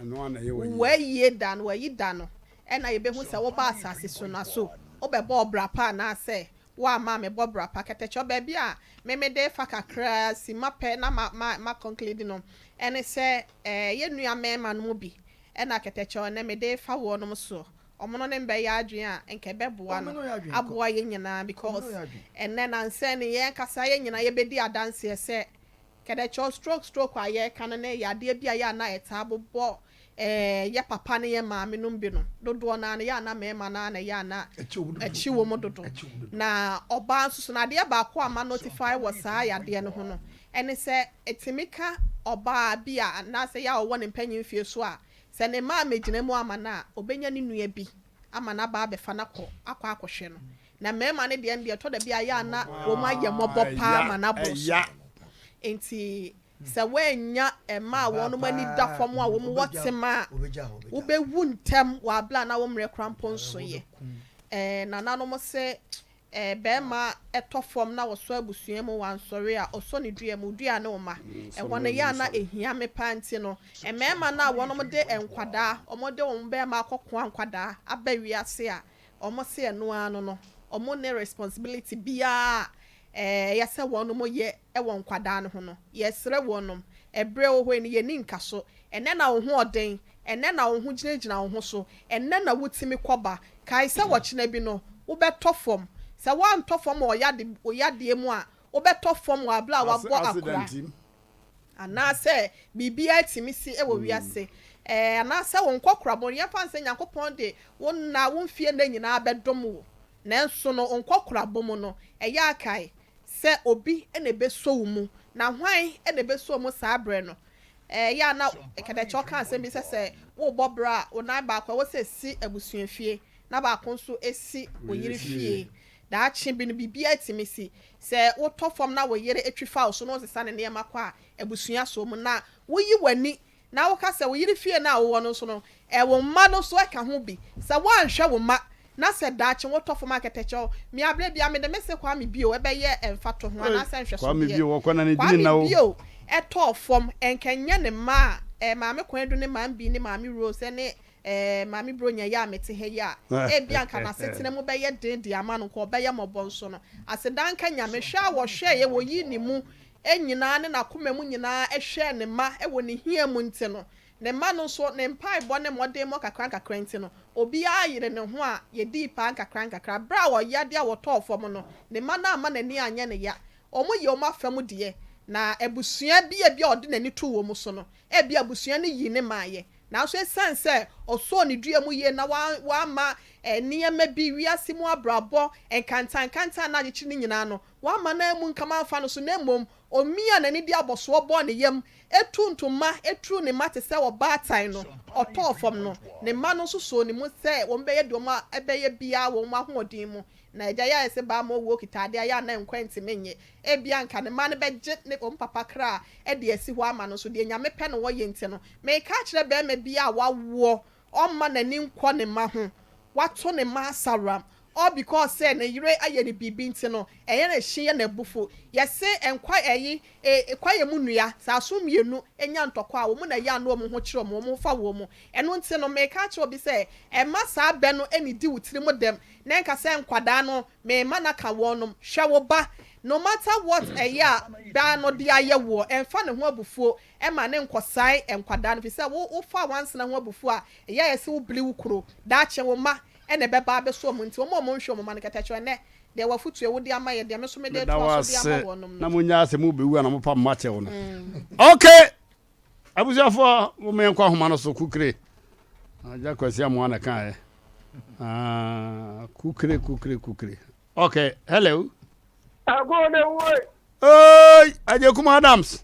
wo ayie da no, w'ayi da no, ɛna yɛbɛhu sɛ wobaa asase so no a, so wobɛbɔɔ bra pa anaasɛ woamma ammɛbɔ bra pa. Kɛtɛkyɔ, baabi a me mede refa kakra ara si ma pɛ na ma, ma, ma conclude no, ɛne sɛ, eh, yɛn nua mmarima no mu bi na Kɛtɛkyɔ, ɛnnɛ mede refa wɔnom soɔ. Ɔmo no ne mbɛyɛ adwen a nka ɛbɛboa no aboa yɛn nyinaa because ɛnɛ nansɛ ne yɛn kasa yɛn nyinaa yɛbɛdi adanseɛ sɛ kɛdɛkyɛw stroke stroke a yɛka no ne yadeɛ bi a yɛ a na ɛtaa bobɔ yɛ papa ne yɛ maame nom bi no dodoɔ naa no yɛ a na mɛɛma naa na yɛ a na ɛkye wɔ mu dodo na ɔbaa nso so na adeɛ baako a ma notify wɔ saa yadeɛ no ho no ɛne sɛ ɛtumi ka ɔbaa bi a anaasɛ yɛ a ɔwɔ ne mpanyinfie so a Sɛ ne mma ammegyina mu amma no a, ɔbɛnya ne nua bi ama no aba abɛfa no akɔ akɔ akɔhwɛ no. Na mmarima no deɛ no deɛ, ɛtɔ da bi a ɛyɛ a na wɔn ayɛ mmɔbɔ pa ara ma no aboro so. Enti sɛ woannya mma a wɔn ani da fam a wɔwɔ tema a, wobɛwu ntɛm wɔ abere a na wo mmerɛ koraa mpo nsoeɛ. Ɛɛ, nananom se Eh bɛɛma ɛtɔ fɔm na wɔsɔ abusua mu wansɔre a ɔsɔ ne dua mu dua ne woma ɛhɔ no yɛ a na ɛhia me paa nti no mmɛɛma no a wɔnom de nkwadaa wɔn de wɔn bɛɛma akɔ koa nkwadaa aba wiase a wɔn se ɛno ara no no wɔn ne responsibility biara a eh ɛyɛ sɛ wɔnom yɛ ɛwɔ nkwadaa no ho no yɛsrɛ wɔnom ɛbrɛ wɔ hɔ yi no yɛni nkaso Ɛnnɛ na wo ho ɔden, ɛnnɛ na wo ho gyinagyina wo ho so, ɛnnɛ na wutumi kɔ ba. Kae sɛ ɔkyena bi no, wobɛtɔ fam. Sɛ woantɔ fam wɔ wo yadeɛ mu a, wobɛtɔ fam wɔ aberɛ a woabɔ akora. Anaasɛ biribiara tumi si wɔ wiase. Ɛɛ, anaasɛ wo nkɔkorabɔ no, yɛmfa no sɛ Nyankopɔn de wo nna, wo mfeɛ nna nyinaa bɛdom wo. Nanso no, wo nkɔkorabɔ mu no, ɛyɛ a kae sɛ obi na ɛbɛsɔ wo mu. Na hwan na ɛbɛsɔ wo mu saa berɛ no? Ɛyɛ a na Kɛtɛkyɛ ɔka asɛm bi sɛ sɛ wobɔ bra a, wo nan baako a ɛwɔ sɛ si abusuafie na baako nso si wo yere fie. Daakye bi no, biribiara tumi si. Sɛ wotɔ fam na wo yere twi fa wo so na ɔsesa ne nneɛma kɔ a, abusua sɔ mu. Na woyi w'ani na woka sɛ wo yere fie no a wowɔ no nso no, wo mma no nso ka ho bi. Sɛ woanhwɛ wo mma na sɛ daakye wotɔ fam a kɛtɛkyɛw me abrɛ bi a mede me se Kwame bio ɛbɛyɛ mfatoho anaasɛ nhwɛso deɛ Kwame bio ɛtɔɔ fam ɛnka ɛnyɛ ne mma a ɛɛ Maame Kwedu ne Maame Bi ne Maame Rose ɛne ɛɛ Maame Bronya yi a mete ha yi a ebia nka n'asetena mu bɛyɛ den de ama no nka ɔbɛyɛ mmɔbɔ nso no aseda nka Nyame hwɛ a wɔhwɛeɛ wɔyii ne mu nyinaa ne n'akoma mu nyinaa hwɛɛ ne mma wɔ ne hia mu nti no Ne mma no nso, ne mpaebɔ ne mmɔdemmɔ nkakrankakra nti no, obiara yeree ne ho a yedii paa nkakrankakra. Bere a ɔyea de a wɔtɔɔ fam no, ne mma no amma n'ani anyɛ ne yea. Wɔyɛɛ wɔn afa mu deɛ, na abusua bi a ebia ɔde n'ani too wɔn so no, ebia abusua no yii ne maeɛ. Nanso esiane sɛ ɔsɔɔ ne dua mu yie na wamma nneɛma bi, wiase mu abrabɔ nkantankantan a na agyekyere no nyinaa no, wamma no ammu nkam amfa no so, na mmom Omiaa n'ani de abɔsoɔ bɔɔ ne yam, tuu ntoma turuu ne mma te sɛ ɔbaatan no, ɔtɔɔ fam no. Ne mma no nso soo ne mu sɛ wɔbɛyɛ deɛ wɔn bɛyɛ biara wɔ wɔn ahoɔden mu. Na agya yi ayɛ sɛ baa ma owuo kita adeɛ a ɛyɛ a na nkwa ntumi nnye. Ebia anka ne mma no bɛgye ne wɔn papa kra de asi hɔ ama no, nso deɛ Nyame pɛ na ɔyɛ nti no, meka akyerɛ barima biara a wawoɔ Ɔmma n'ani nkɔ ne mma ho. Wato ne mma asaworam. All because sɛ ne yere ayɛ no biribi nti no, ɛyɛ no hye yɛ no abufuw. Yɛse nkwa ɛyi e, kwaeɛ mu nnua, sɛ aso mmienu nya ntɔkwa a, wɔn na ɛyɛ ano wɔn ho kyerɛ wɔn, wɔn ho fa wɔn. Ɛno nti no, mereka akyerɛ obi sɛ, mma saa bɛ no nnidi wo tirim dɛm, na nka sɛ nkwadaa no, me mma no aka wɔnom. Hwɛ wo ba. No matter what ɛyɛ a bɛ no de ayɛ woɔ, ɛmfa ne ho abufuo Ɛma ne nkɔsae nkwadaa no, efisɛ wo wofaa nwansena ho abufuw a ɛyɛ a ɛyɛ sɛ wobli wo kuro. Daakye wo mma na ɛbɛba abɛso wɔn nti, wɔn a wɔnhwɛ wɔn mma no kɛtɛ kyerɛ wɔn. Ɛnnɛ, deɛ wɔ afotu a wode ama yɛ deɛ me nso mede Meda wo retoa so de ase ama wɔnom na no. monnyae sɛ mobɛwu a na mopa mma kyɛ wo no. Ok! Abusuafoɔ, momma yɛnkɔ ahoma no so, Kukire. Agya Kwasi Amoah na ɛkaeɛ. Ah, kukire, kukire, kukire. Ok, hello. Agodewoe! Oi! Agyekum Adams!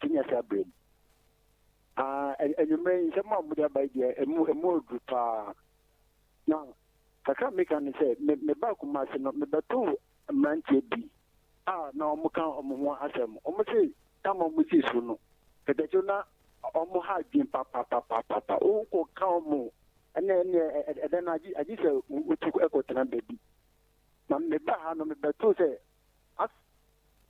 Senior saa bere mu. Ah, anwummere yi nsɛm a mode aba deɛ emu emu oduru paa. Na kakra meka ne sɛ me me ba kuma ase no mebɛto mmeranteɛ bi a na wɔn ka wɔn ho asɛm. Wɔn se tam a wɔn si so no kɛtɛkyew na wɔn ha adwene papapapapa. Wokɔ ka wɔn ɛnna ɛnna ɛdɛ na agye agye sɛ wotu ɛkɔtena baabi. Na meba ha no mebɛto sɛ as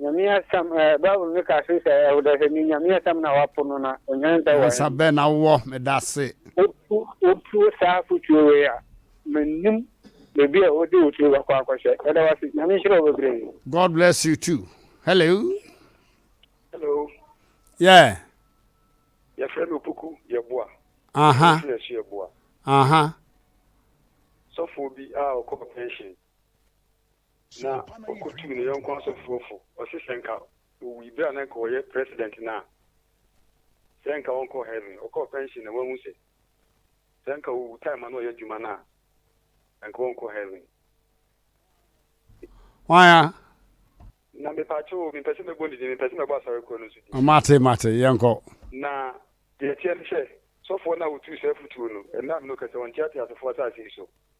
Nyame asɛm ɛɛ bible no ka so sɛ ɛwodɛ sɛ ne Nyame asɛm na wapo no na onyan sɛ wɔn. Nyansa bɛn na wowɔ medase. Wotu wotu saa afotuo wei a mennim baabi a wode wo tiri bɛkɔ akɔhyɛ yɛda wase Nyame nhyira wo bebree. God bless you too hello. Hello. Yeah. Yɛfrɛ me Opoku Yeboa. Aha. Uh -huh. Yeboa. Aha. Uh -huh. Sɔfoɔ bi a ɔkɔ pension. Na ɔkɔtuu ne yɔnko asɔfoɔ fo, ɔse sɛ nka ɔwui berɛ a na nka ɔyɛ president no a, sɛ nka ɔnkɔɔ heaven, ɔkɔɔ pension na wahu sɛ, sɛ nka ɔwu time a na ɔyɛ adwuma no a, nka ɔnkɔ heaven. Hwan a? Na mepatwo o, mempɛ sɛ mɛbɔ ne din, mempɛ sɛ mɛbɔ asɔre korɔ no nso din. Mate, mate, yɛnkɔ. Na deɛ ɛteɛ ne sɛ, sɔfoɔ no a ɔtuu saa afutuo no, ɛnam no kɛsɛ ɔnteatea asɔfoɔ asase yi so.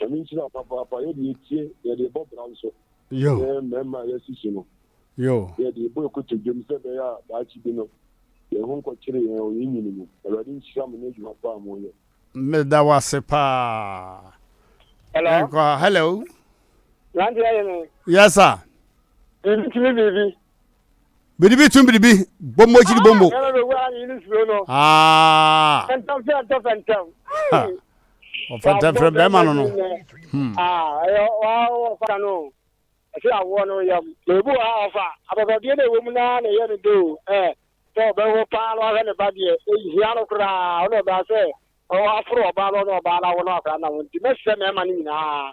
Ɛno nti na papaapa yɛ deɛ etie yɛ deɛ bɔ bra nso sɛ mmarima a yɛasi so no yɛ deɛ bɔ ɛkoto dwom sɛ ɛbɛyɛ a daakye bi no yɛn ho nkɔ kyere yɛn wɔ yɛn nyini mu awurade nhyira mo ne adwuma pa a mo yɛ. Me da wase paa. Hello. Yɛnkɔ ha. Hello. Nanti ayɛ me. Yes sir. Biribi tumi biribi. biribi tum biribi bɔmmɔ akyiri ah, bɔmmɔ ah. ɔfɛntɛmfrɛ bɛrima no no hmm. ah, ɛsɛ awoɔ no yam na ebi wɔ ha ɔfa abɔbɔdeɛ na ɛwɔ mu naa na ɛyɛ no do ɛ sɛ ɔbɛwo paa na wahwɛ ne ba deɛ ɛhia no koraa ɔna ɔbaa sɛ ɔwɔ aforo ɔbaa no ɔna ɔbaa no awo no akora na wo nti mɛsɛ mɛma no nyinaa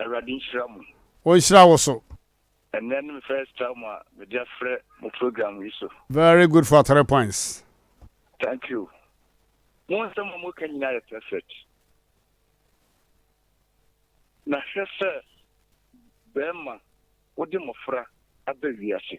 Awurade nhyira mo. Ɔnhyira wo so. Ɛnɛ ne me first time a mede afrɛ mo program yi so. Very good for three points. Thank you. Mo nsɛm a moka nyinaa yɛ perfect. Na hwɛ sɛ bɛrima wode mmɔfra aba wiase.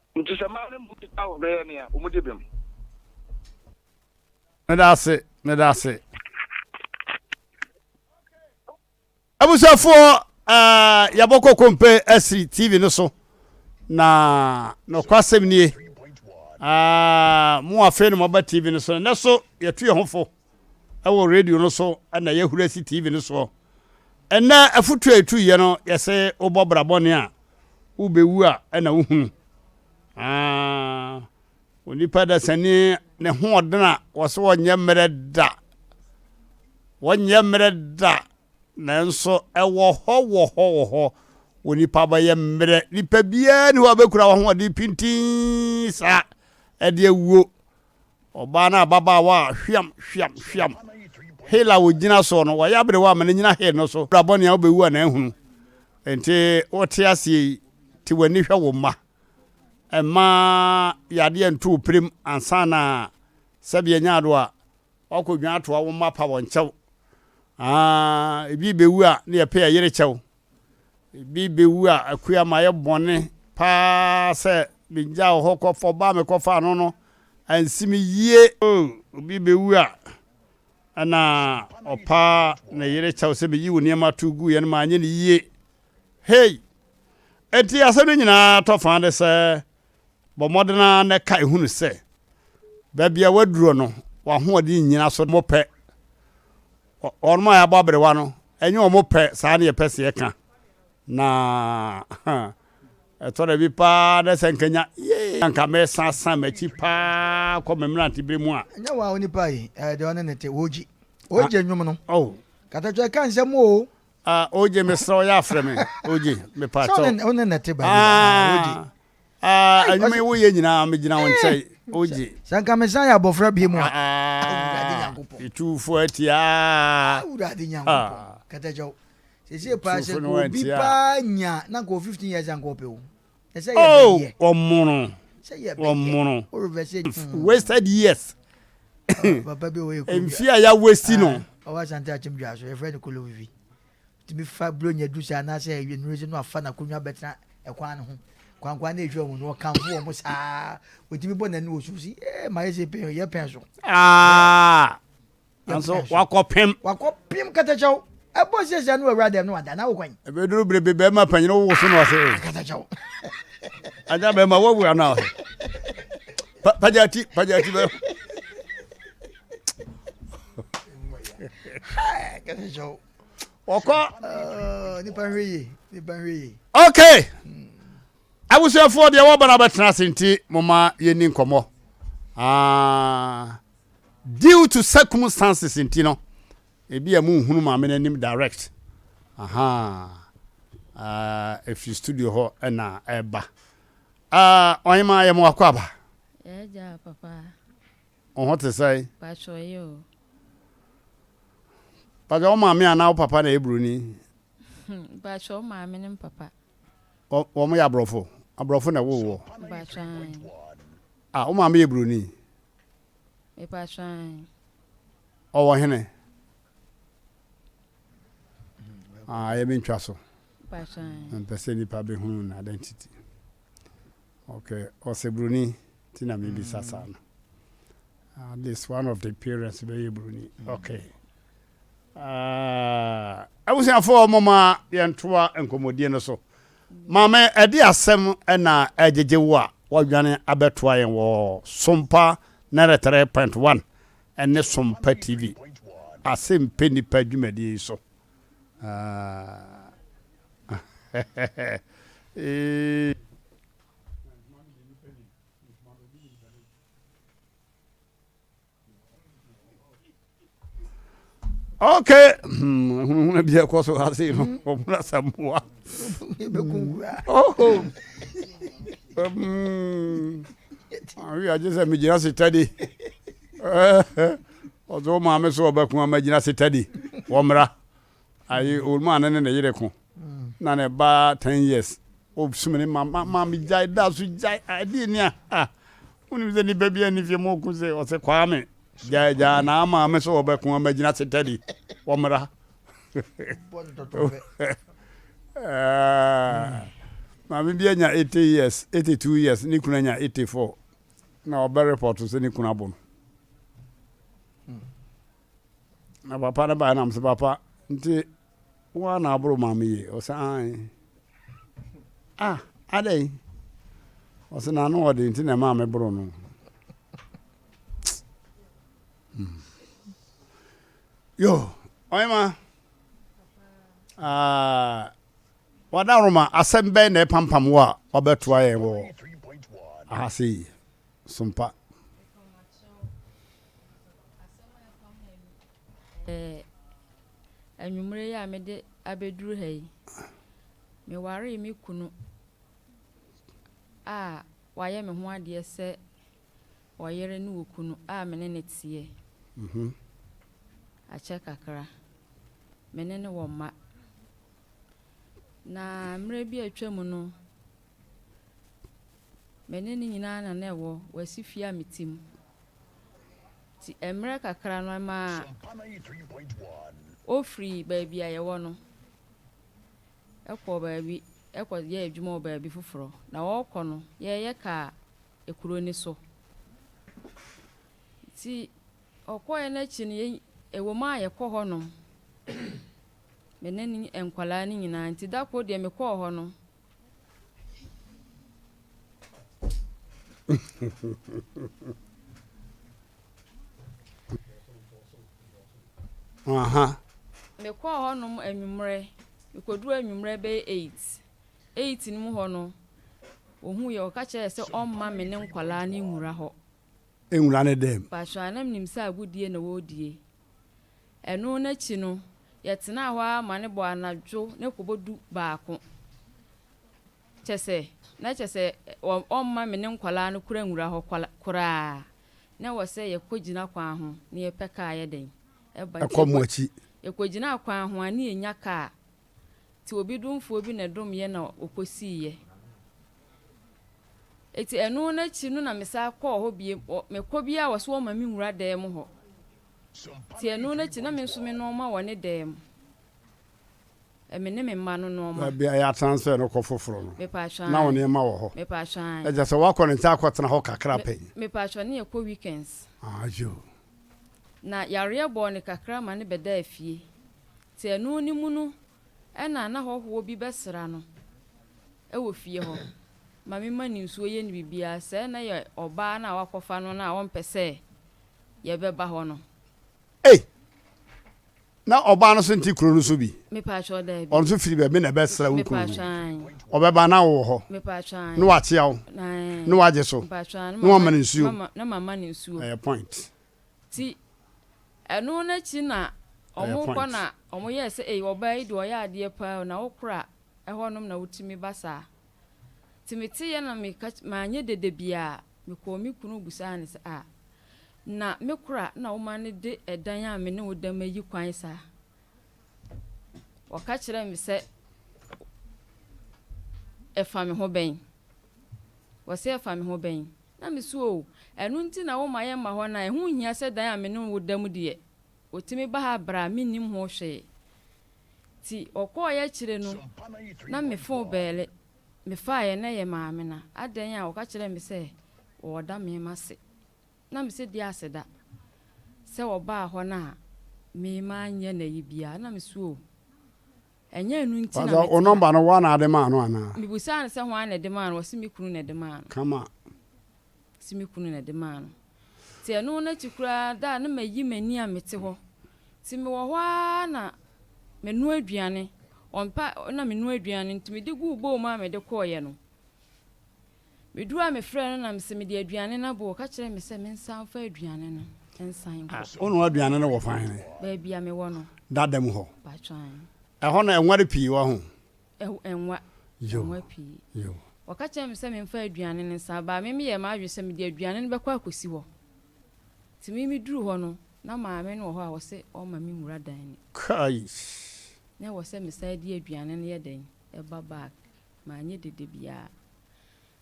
Nti sɛ mmaa no mmu so da a wɔbɛyɛ nea wɔde bem. Medase medase. Abusuafoɔ uh, yɛbɔ kɔkɔmpe asi TV no so na nɔkwasɛm nie uh, mo afei no mɔba TV no so na so yɛtu yɛ ho fo. wɔ radio no so na yɛahura si TV no soɔ. Ɛnnɛ afotuo a ɛtuiɛ no yɛse wobɔ bra bɔne a wobɛwu a ɛna wohunu. Onipa dasani ne hoɔden a wɔse wɔnyɛ mmerɛ da. Wɔnyɛ mmerɛ da nanso ɛwɔ hɔ wɔ hɔ wɔ hɔ wɔ nipa bɛyɛ mmerɛ. Nipa biara ni hɔ a bɛkura wɔ ahoɔden pintin saa ɛde awuo Ɔbaa no ababaawa a hweam, hweam, hweam, hill a ogyina soɔ no, wayɛ aberewa ama no nyina hill no so. Bra bɔne a wobɛwu a na ahunu. Nti wote aseɛ yi, te w'ani hwɛ wo mma. Mma yadeɛ nto wo pirim ansa na sɛbi anya ado a, woakɔdwane atoa wo mma pa wɔn kyɛw. Aa, ebi bɛwu a na yɛpɛ yɛyere kyɛw. Ebi bewu a akua mayɛ bɔne paa sɛ migyaw hɔ kɔ fam ba a mekɔfaa no no ansi me yie. O obi bewu a ɛna ɔpa ne yere kyɛw sɛ meyii wo nneɛma tow guiɛ no manyɛ no yie. Hey! Enti asɛm no nyinaa tɔ fã de sɛ Bɔ mmɔden ara na ka ehu no sɛ, baabi a woaduro no, w'ahoɔden nnyina so. Wɔn pɛ. Wɔn a yɛabɔ aberewa no, ɛnyɛ wɔn pɛ saa na yɛpɛ sɛ yɛka. Na ɛtɔ da bi paa na sɛ nka nya, yee, anka mɛsansan m'akyi paa kɔ me mmerantebere mu a. Ɛnyɛ wɔn a onipa yi, ɛɛ, deɛ ɔne ne te, wogye. Wogye nnwom no. Oh. Katakyɛ ka nsɛm o. Ah OJ mesrɛ wo yɛ afrɛ me OJ mepa kyɛw. Sɛ wone na te ba bi ah OJ. Ah ɛnwuma yi woyɛ nyinaa megyina wo nkyɛn OJ. Sɛ nka mesan yɛ abɔfra bi mu a. Awurade Nyankopɔn. Etuufo atia. Awurade Nyankopɔn. Kɛtɛkyɛw. Sɛsɛ paa sɛ obi paa nya na nka 15 years anka ɔpɛ o. Oh, wɔmono, wɔmono, wasted years. Mfi a ya wasi no. Ɔwɔ asante akyem dwa so, yɛfrɛ no kolo vivi. Tumi fa buro nya du sɛ anaasɛ ɛyɛ nnuro sɛ no afa n'akonnwa bɛtena ɛkwan no ho. Kwankwan na ehwɛ wɔn no ɔkanfo wɔn mo saa. Otumi bɔ n'ani wɔ so si, eh, ma yɛ sɛ pɛn, yɛ pɛn so. Ah! nanso wakɔpem wakɔpem katakyɛw ɛbɔ siesia no awura dɛm no wada na wokwan ɛbɛduru bere bi bɛrima panyin wowo so no ase katakyɛw agya bɛrima woawura no ase pagya ti pagya ti bɛrima katakyɛw wɔkɔ oh, nipa nhwɛ yie nipa nhwɛ yie okay hmm. abusuafoɔ deɛ wɔba no abɛtena ase nti moma yɛni nkɔmmɔ ah. Due to circumstances nti no, ebi a munhunu maame no anim direct. Aha. Uh, efi studio hɔ na ɛba. Uh, ɔhema yɛ mo akɔ aba. Ɛgya papa. Ɔho te sɛe. Patro yɛ o. Patro wo maame anaa wo papa na yɛ broni. Patro wo maame ne papa. Wɔn yɛ aborɔfo. Aborɔfo na ɛwɔ wɔ. Patro. Ah, wo maame yɛ broni. Mepakyɛ ahen? Ɔwɔ hene? Ah, yɛ mentwa so. Mepakyɛ ahen? Mpɛ sɛ nipa bɛhunu no identity. Okay, ɔsɛ Broni, ti na mebisa saa no. At least one of the parents bɛyɛ Broni. Okay. Ah, abusuafoɔ moma yɛntoa nkɔmmɔdie no so. Maame, ɛdeɛ asɛm na ɛregyegye wo a woadwane abɛtoa yɛn wɔ Sompa ninety three point one ne Sompa TV Asɛmpɛ Nnipa dwumadie yi so. Eeii. ok hunahuna hmm, bi ɛkɔ so ha sei no ɔmono asamoa awi agye sɛ megyina setade ɔsɛ wo maame so ɔbɛko a magyina setade wɔmmra ayi ɔluma no ne ne yere ko na ne ba ten years ɔsum ne ma ma ma megyae da so gyae adeɛ ni a ah wonim sɛ nnipa bi ani fie ma ɔku sɛ ɔsɛ kwaa me gyae gyaa na ama me sɛ ɔbɛko ama gyina se tɛde ɔmmra ah, maame bi anya 80 years 82 years ne kunu anya 84 na ɔbɛ report sɛ ne kunu abɔ no Na papa no bae na mese, Papa, nti wo ara na aboro ma me yie? Ɔse, Aane. Ah, adɛn? Ɔse, na ano ɔde nti na ɛmaa me boro no. Hmm. Yo, ɔyema. Ah, wadaroma asɛm bɛn na ɛpampam wo a wabɛtoa yɛn wɔ ahase yi? sompa. Anwummerɛ yi a mede abɛduru ha yi, mewaree me kunu a wayɛ me ho adeɛ sɛ ɔyere ne okunu a me ne no teɛ mhm. akyɛ kakra. Me ne no wɔ mma. Na mmerɛ bi a atwa mu no, Me ne no nyinaa na na ɛwɔ Wasi fie a mete mu. Nti mmerɛ kakra no ɛmaa ɔfiri baabi a yɛwɔ no kɔɔ baabi kɔyɛɛ adwuma wɔ baabi foforɔ. Na ɔrekɔ no, yɛreyɛ kaa kuro no so. Nti ɔkɔeɛ no akyi no, ɛwom ara a yɛkɔ hɔnom, me ne no nkwadaa no nyinaa. Nti da koro deɛ mekɔɔ hɔ no, Uh-huh. mekɔɔ hɔnom anwummerɛ mekɔduru anwummerɛ bɛyɛ eight eight no mu hɔ no wɔhu yɛ ɔka kyerɛ sɛ ɔmma me ne nkwadaa no nwura hɔ nwura ne dan mu. Pasoanam nim sɛ agodie na wɔredie. Ɛno no akyi no, yɛtenaa hɔ ara ma no bɔɔ anadwo ne kɔbɔ du baako. Kyɛ sɛ, na kyɛ sɛ ɔmma me ne nkwadaa no kura nwura hɔ koraa. Na ɛwɔ sɛ yɛkɔgyina kwan ho na yɛpɛ kaa yɛ dɛn? Ɛkɔ mo akyi. Yɛkɔgyinaa kwan ho a, na yɛnya kaa. Ntsi obi domfoɔ bi na ɛdomyɛ na ɔkɔsiiɛ. Ntsi ɛno no akyiri no na mesan kɔɔ hɔ bio, wɔ, mekɔ biara wɔse wɔma me nwura dan mu hɔ. Ntsi ɛno no akyiri na me nso me nnoɔma wɔ ne dan mu. Ɛ, me ne me mma no nnoɔma. Baabi a yɛatena nso yɛ no kɔ foforɔ no, Mepaatwɔ, na wo aane. nneɛma wɔ hɔ. Mepaatwɔ, aane. Ɛkyerɛ sɛ woakɔ ne nkyɛn akɔtena hɔ kakra Me, pɛn? mepaatwɔ ne yɛkɔ weekends. Aah, yoo. Na yareɛ bɔɔ no kakra ma no bɛdaa fie. Te ɛno no mu no na na hɔhoɔ bi bɛsra no wɔ fie hɔ ma me ma no nsuo yɛ no biribiara, sɛɛ na yɛ ɔbaa no a wakɔfa no no a ɔmpɛ sɛ yɛ bɛba hɔ no. Ei! Na ɔbaa no nso nte kuro no nso bi? Mepaakyɛw, daabi. Ɔno nso firi baabi na ɛbɛsra wo kuro no? Mepaakyɛw, aane. Ɔbɛba na wowɔ hɔ? Mepaakyɛw, aane. Na wakyea wo? Aane. Na wagye so? Mepaakyɛw, aane. Na wama no nsuo? Na mama no nsuo. Ɛyɛ point. Nti ɛno no akyi na ɔmo kɔ na ɔmo yɛɛ sɛ ei ɔbaa yi deɛ ɔyɛ adeɛ paa o na wo kora ɛhɔ nom na wotumi ba saa. Nti me te yɛ na me ka manyɛ dede biaa me kɔɔ me kunu busaa no sɛ ah na me kora na wo ma no de ɛdan a me ne wo da mu ayi kwan saa? Ɔka kyerɛɛ me sɛ ɛfa me ho bɛn? Ɔse ɛfa me ho bɛn? Na me se oo, ɛno nti na wo ma yɛ mma hɔ no a, ɛho nhia sɛ dan a me ne wo da mu deɛ, ɔtumi ba ha bra a me nnim ho hwee. Nti ɔkɔɔeɛ akyire no, na me fon bɛɛle, me faaeɛ na ɛyɛ maame no adɛn a ɔka kyerɛɛ me sɛ ɔɔda me ma se. Na me se deɛ aseda sɛ ɔbaa hɔ no a, me maa nyɛ no ayi biara. Na me se oo, Ɛnyɛ ɛno nti na Pastor, mete wo ha. number no woa na ade maa no anaa? Mibisaa no sɛ hwan na ɛde maa no, ɔse me kunu na ɛde maa no. Come on. Ɔse me kunu na ɛde maa no. Nti ɛno n'akyi koraa da a na mayi m'ani a mete hɔ. Nti mewɔ hɔ ara na menoa aduane, ɔmpɛ a na menoa aduane nti mede guu bowl mu a mede kɔeɛ no, Meduu a mefrɛɛ no na mese mede aduane no abo, ɔka kyerɛɛ me sɛ mensan mfa aduane no nsan nkɔ. Wonoa aduane no wɔ fan he? Baabi a mewɔ no. Dada mu hɔ? Mpakyɛw aane. Ɛhɔ no ɛnware pii wɔ ho? Ɛnwa, ɛnwa pii. Yoo. Ɔka kyerɛɛ me sɛ memfa aduane no nsan ba a, me meyɛɛ m'adwene sɛ mede aduane no bɛkɔ akɔsi hɔ. Nti me meduru hɔ no, na maame no wɔ hɔ a ɔse ɔmma me nwura dan no mu. Kaaish! Na ɛwɔ sɛ mesan de aduane no yɛ dɛn? Ɛba bag. Manyɛ dede biara.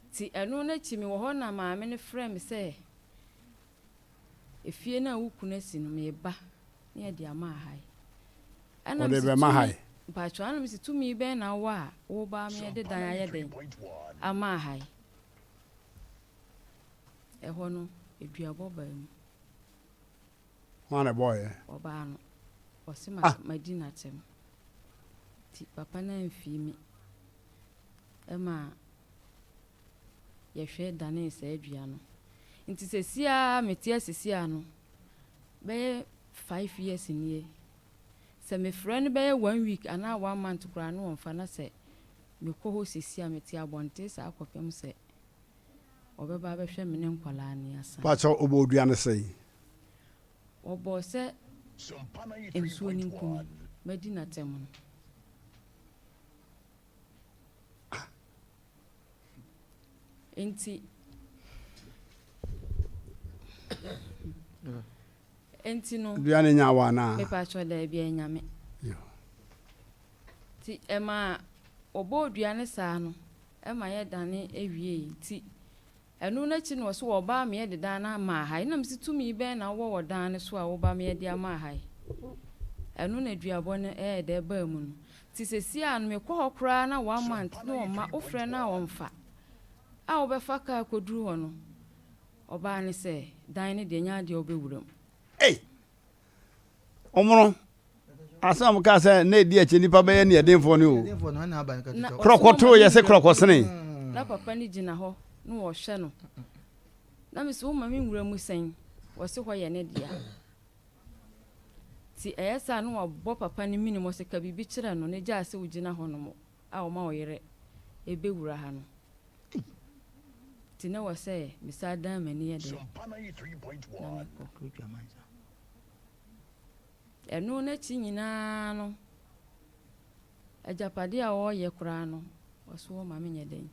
Nti ɛno no akyi mewɔ hɔ na maame no frɛɛ me sɛ, Efie no a wo kunu asi no, meba na yɛde ama ha yi. Ɛna Ɔde mese, bɛma ha Tumi, yi. mpakyɛw, ɛna mese, Tumi bɛn na wowɔ a woba ma yɛde dan ayɛ dɛn ama ha yi? Ɛhɔ no, aduabɔ baa mu. Hwan na ɛbɔɔ yɛn? Ɔbaa no, ɔse ma Ah! madi n'akyɛm. Nti papa no amfii me ma yɛhwɛ danee saa dua no. Nti sɛsi ara a mete ase si ano bɛyɛ five years nie, sɛ mefrɛ no bɛyɛ one week anaa one month koraa no ɔmfa na sɛ mekɔ hɔ sɛsi a mete abɔnten saa kɔpem sɛ ɔbɛba abɛhwɛ me ne nkwadaa no yɛasan. Pakyɛw ɔbɔɔ dua no sɛn? Wɔbɔɔ sɛ nsuo no nkumi madi n'atam no. Enti Enti no. Dua no nya wa na. Mepatwɔ daabi a ɛnyame. Ti ɛma wɔbɔɔ dua no saa no ɛma yɛdane awiei ti Ɛno no akyi no ɔse wɔbaa me yɛde dan no amaa ha yi na mese tumi bɛn na wowɔ wɔ dan no so a woba me yɛde amaa ha yi ɛno na duabɔ no ɛyɛ dɛ baa mu no nti sesie a no mekɔ hɔ koraa na one month na ɔmma wofrɛ no a ɔmfa a wobɛfa kaa kɔduru hɔ no ɔbaa no sɛ dan no deɛ nyɛ adeɛ a wobɛwura mu. Ei! wɔn no asɛm a wɔkaa sɛ na ɛdi akyire nipa bɛyɛ ne ɛdenfoɔ no o korɔkɔ too yɛ sɛ korɔkɔ sene na papa no gyina hɔ na wɔhwɛ no na me sɛ woma me nwura mu sɛn wɔse hɔ yɛ ne dea nti ɛyɛ saa na wɔabɔ papa no mene mɔ sɛ ka biribi kyerɛ no na gyaa sɛ wogyina hɔ no mɔ a wɔma wo yere bɛwura ha no, enti na ɛwɔ sɛ mesan dan m'ani yɛ dɛn, na mekɔ. Ɛno no akyi nyinaa no, agyapadeɛ a wɔreyɛ koraa no, ɔsoɔ ma menyɛ dɛn,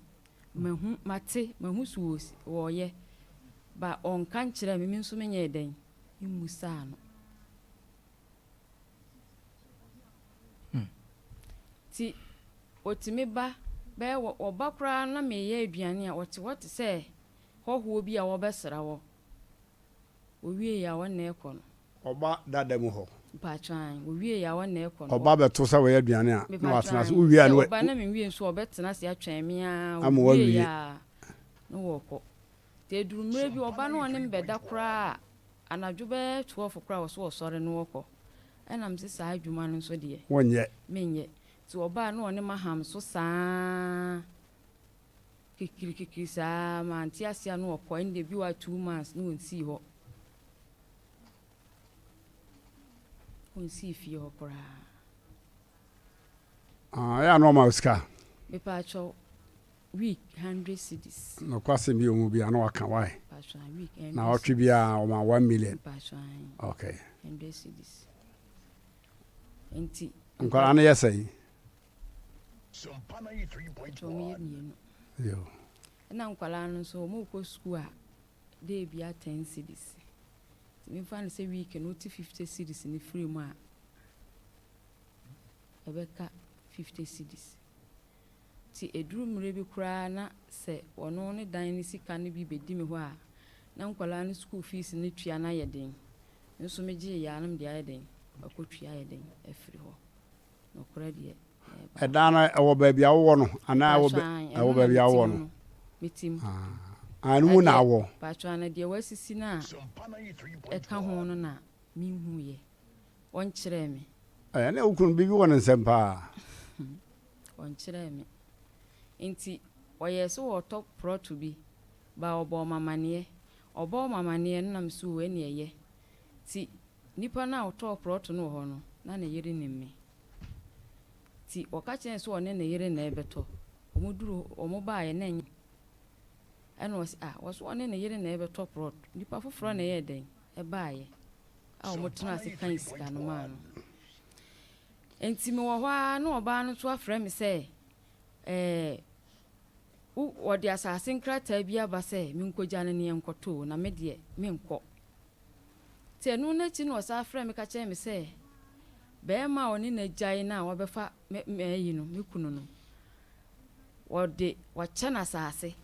mahu, mate, mahu so wɔ, wɔreyɛ, but ɔnka nkyerɛɛ me, me nso menyɛɛ dɛn, memmusaa no. Nti wɔtumi ba bɛyɛ wɔba koraa na meyɛ aduane a wɔte hɔ te sɛ hɔhoɔ bi a wɔbɛsra wɔ wɔwieɛ a wɔn na ɛkɔ no. Wɔba dada mu hɔ. Mpakyɛw ae wɔwieɛ a wɔn na ɛkɔ no. Wɔba bɛto sɛ wɔyɛ aduane a na wɔatena ase wowie a na. Sɛ wɔba na menwie nso a wɔbɛtena ase atwɛn me ara wɔwieɛ a na wɔkɔ. Sɛ ɛduru mmerɛ bi ɔba na ɔne me bɛda koraa a, anadwo bɛyɛ twelve koraa a ɔse ɔsɔre na ɔkɔ. Ɛna mese saa adwuma no nso deɛ, menyɛ. Nti ɔba a na ɔne me aham so saa kikirikikiri saa, mante aseɛ a na ɔkɔ. Ɛnna ebi wɔ hɔ a two months na ɔnsii hɔ. Ɔnsii fie hɔ koraa. Ɛyɛ a na ɔma wo sika? Mepaakyɛw, week hundred cedis. Nokwasɛm bi wɔ mu bi a na waka why? Mpasoa week hundred. Na ɔtwe bi a ɔma one million. Mpasoa ayi. Okay. Hundred cedis. Nti. Nkwadaa no yɛ sɛn? Nti wɔn yɛ mmienu. Yoo. Ɛna nkwadaa no nso wɔn kɔ sukuu a day bi a ten cedis. Nti mi fa no sɛ week no ti fifty cedis ne firi mu a ɛbɛka fifty cedis. Nti ɛduru mmerɛ bi koraa na sɛ ɔno ne dan no sika no bi bɛdi me hɔ a, na nkwadaa no sukuu fees no tua no ayɛ den. Nso megyeeɛ ara na mede ayɛ dɛn, makɔtua ayɛ dɛn afiri hɔ. Nokorɛ deɛ, ɛɛba ara. Ɛdan no, ɛwɔ baabi a wowɔ no? Anaa ɛwɔ Mpaatwɔ, aane, ɛno na baabi a mete wowɔ mu no? no, mete mu. Aane, ɛno Na mu na deɛ, awɔ? mpaatwɔ, na deɛ wɔasisi no a ɛka ho no na menhuuiɛ. Wɔnkyerɛɛ me. Ɛɛ, ɛnneɛ wo kunu no, biribi wɔ ne nsam paa. Wɔnkyerɛɛ me. Enti wɔyɛɛ sɛ wɔɔtɔ prɔto bi baa wɔbɔɔ m'amaneɛ. Wɔbɔɔ m'amaneɛ no na me so oo ɛne ɛyɛ. Nti nipa no a ɔtɔɔ prɔto no wɔ hɔ no na ne yere nim me. Nti wɔka kyerɛɛ no sɛ ɔne ne yere na ɛɛbɛtɔ. Wɔn duru hɔ wɔn baeɛ na ɛnyɛ ɛna ɔse ah wɔse ɔne ne yere na ɛɛbɛtɔ prɔto nipa foforɔ na ɛyɛɛ dɛn ɛbaeɛ a wɔn tenaa ase kan sika no maa no. Enti mewɔ hɔ ara na ɔbaa no nso afrɛ me sɛ, Ɛɛ, wo, wɔde asase nkrataa bi aba sɛ menkɔgya no na yɛnkɔto o, na me deɛ, menkɔ. Enti ɛno no akyi no ɔsan frɛɛ me ka kyerɛɛ me sɛ, Barima a ɔne no agyae no a wabɛfa me, m'ayi no, me kunu no, wɔde, wɔakyɛ no asase.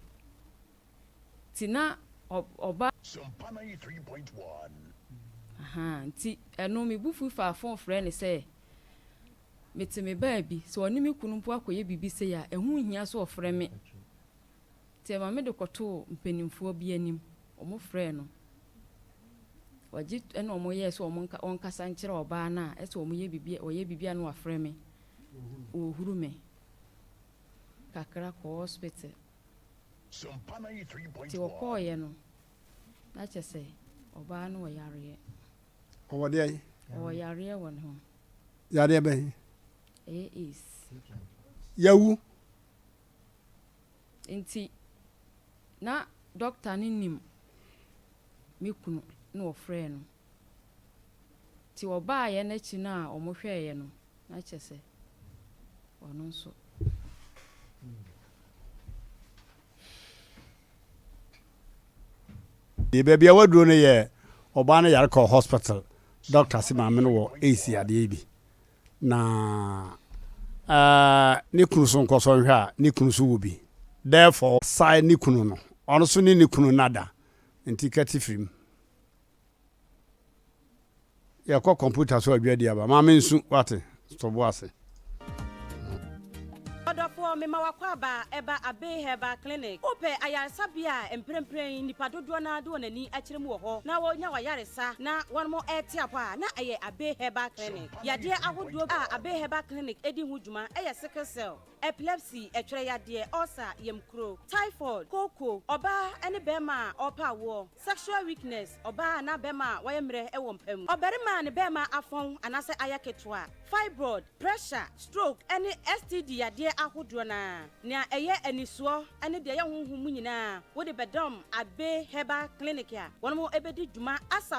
Nti na ɔba. Sumpa ninety three point one. Ahaa nti ɛno me bo fui faa phone frɛɛ no sɛ mete me baabi sɛ ɔne me kunu mpo akɔyɛ biribi sei a ɛho nhia sɛ ɔfrɛ me nti ɛma mede kɔtoo mpaninfoɔ bi anim ɔmo frɛɛ no ɔgye ɛna ɔmo yɛɛ sɛ ɔmo nka ɔnkasa nkyerɛ ɔbaa no a ɛsɛ ɔmo yɛ biribi ɔyɛ biribi a na wafrɛ me ɔhuru me kakra kɔɔ hospital. Nti wɔkɔɔeɛ no, na kyerɛ sɛ ɔbaa no wɔ yareɛ. Ɔwɔ deɛn? Ɔwɔ yareɛ wɔ ne ho. Yareɛ bɛn? Ɛyɛ AIDS. Yawu. Nti na dɔkta no nim me kunu na ɔfrɛɛ no. Nti wɔbaeɛ no akyi no a wɔhwɛeɛ no, na kyerɛ sɛ ɔno nso. Yɛ baabi a waduro no yɛ ɔbaa no yare kɔɔ hospital doctor se maame no wɔ AIDS yadeɛ bi na uh, ne kunu so nkɔsɔ nhwɛ a ne kunu so wɔ bi therefore sae ne kunu no ɔno so ne ne kunu nada nti kati firim. Yɛkɔ kɔmputa so adwadi aba. Ma mensu, woate? To bo ase. Ɔdɔfoɔ, mema w'akwaaba ba Abbey Herbal Clinic. Wopɛ ayaresabea a mprempren nnipa dodoɔ no ara de wɔn ani kyerɛ mu wɔ hɔ na wɔnya wɔn ayaresa na wɔte apɔ a, na ɛyɛ Abbey Herbal Clinic. Yadeɛ ahodoɔ a Abbey Herbal Clinic di ho dwuma yɛ sickle cell, epilepsy, ɛtwerɛyadeɛ, ulcer, yamkuro, typhoid, kooko, ɔbaa ne barima a ɔrepɛ awoɔ, Sexual weakness, ɔbaa anaa bɛrima a wayɛ mmerɛ wɔ mpa mu, ɔbarima a ne bɛrima afɔn anaasɛ ayɛ ketewa, fibroid, pressure, stroke, ɛne STD yadeɛ ahodoɔ no ara, nea ɛyɛ anisoɔ ɛne deɛ ɛyɛ honhom mu nyinaa wode bɛdɔm Agbe Herbal Clinic a wɔn bɛdi dwuma Asa.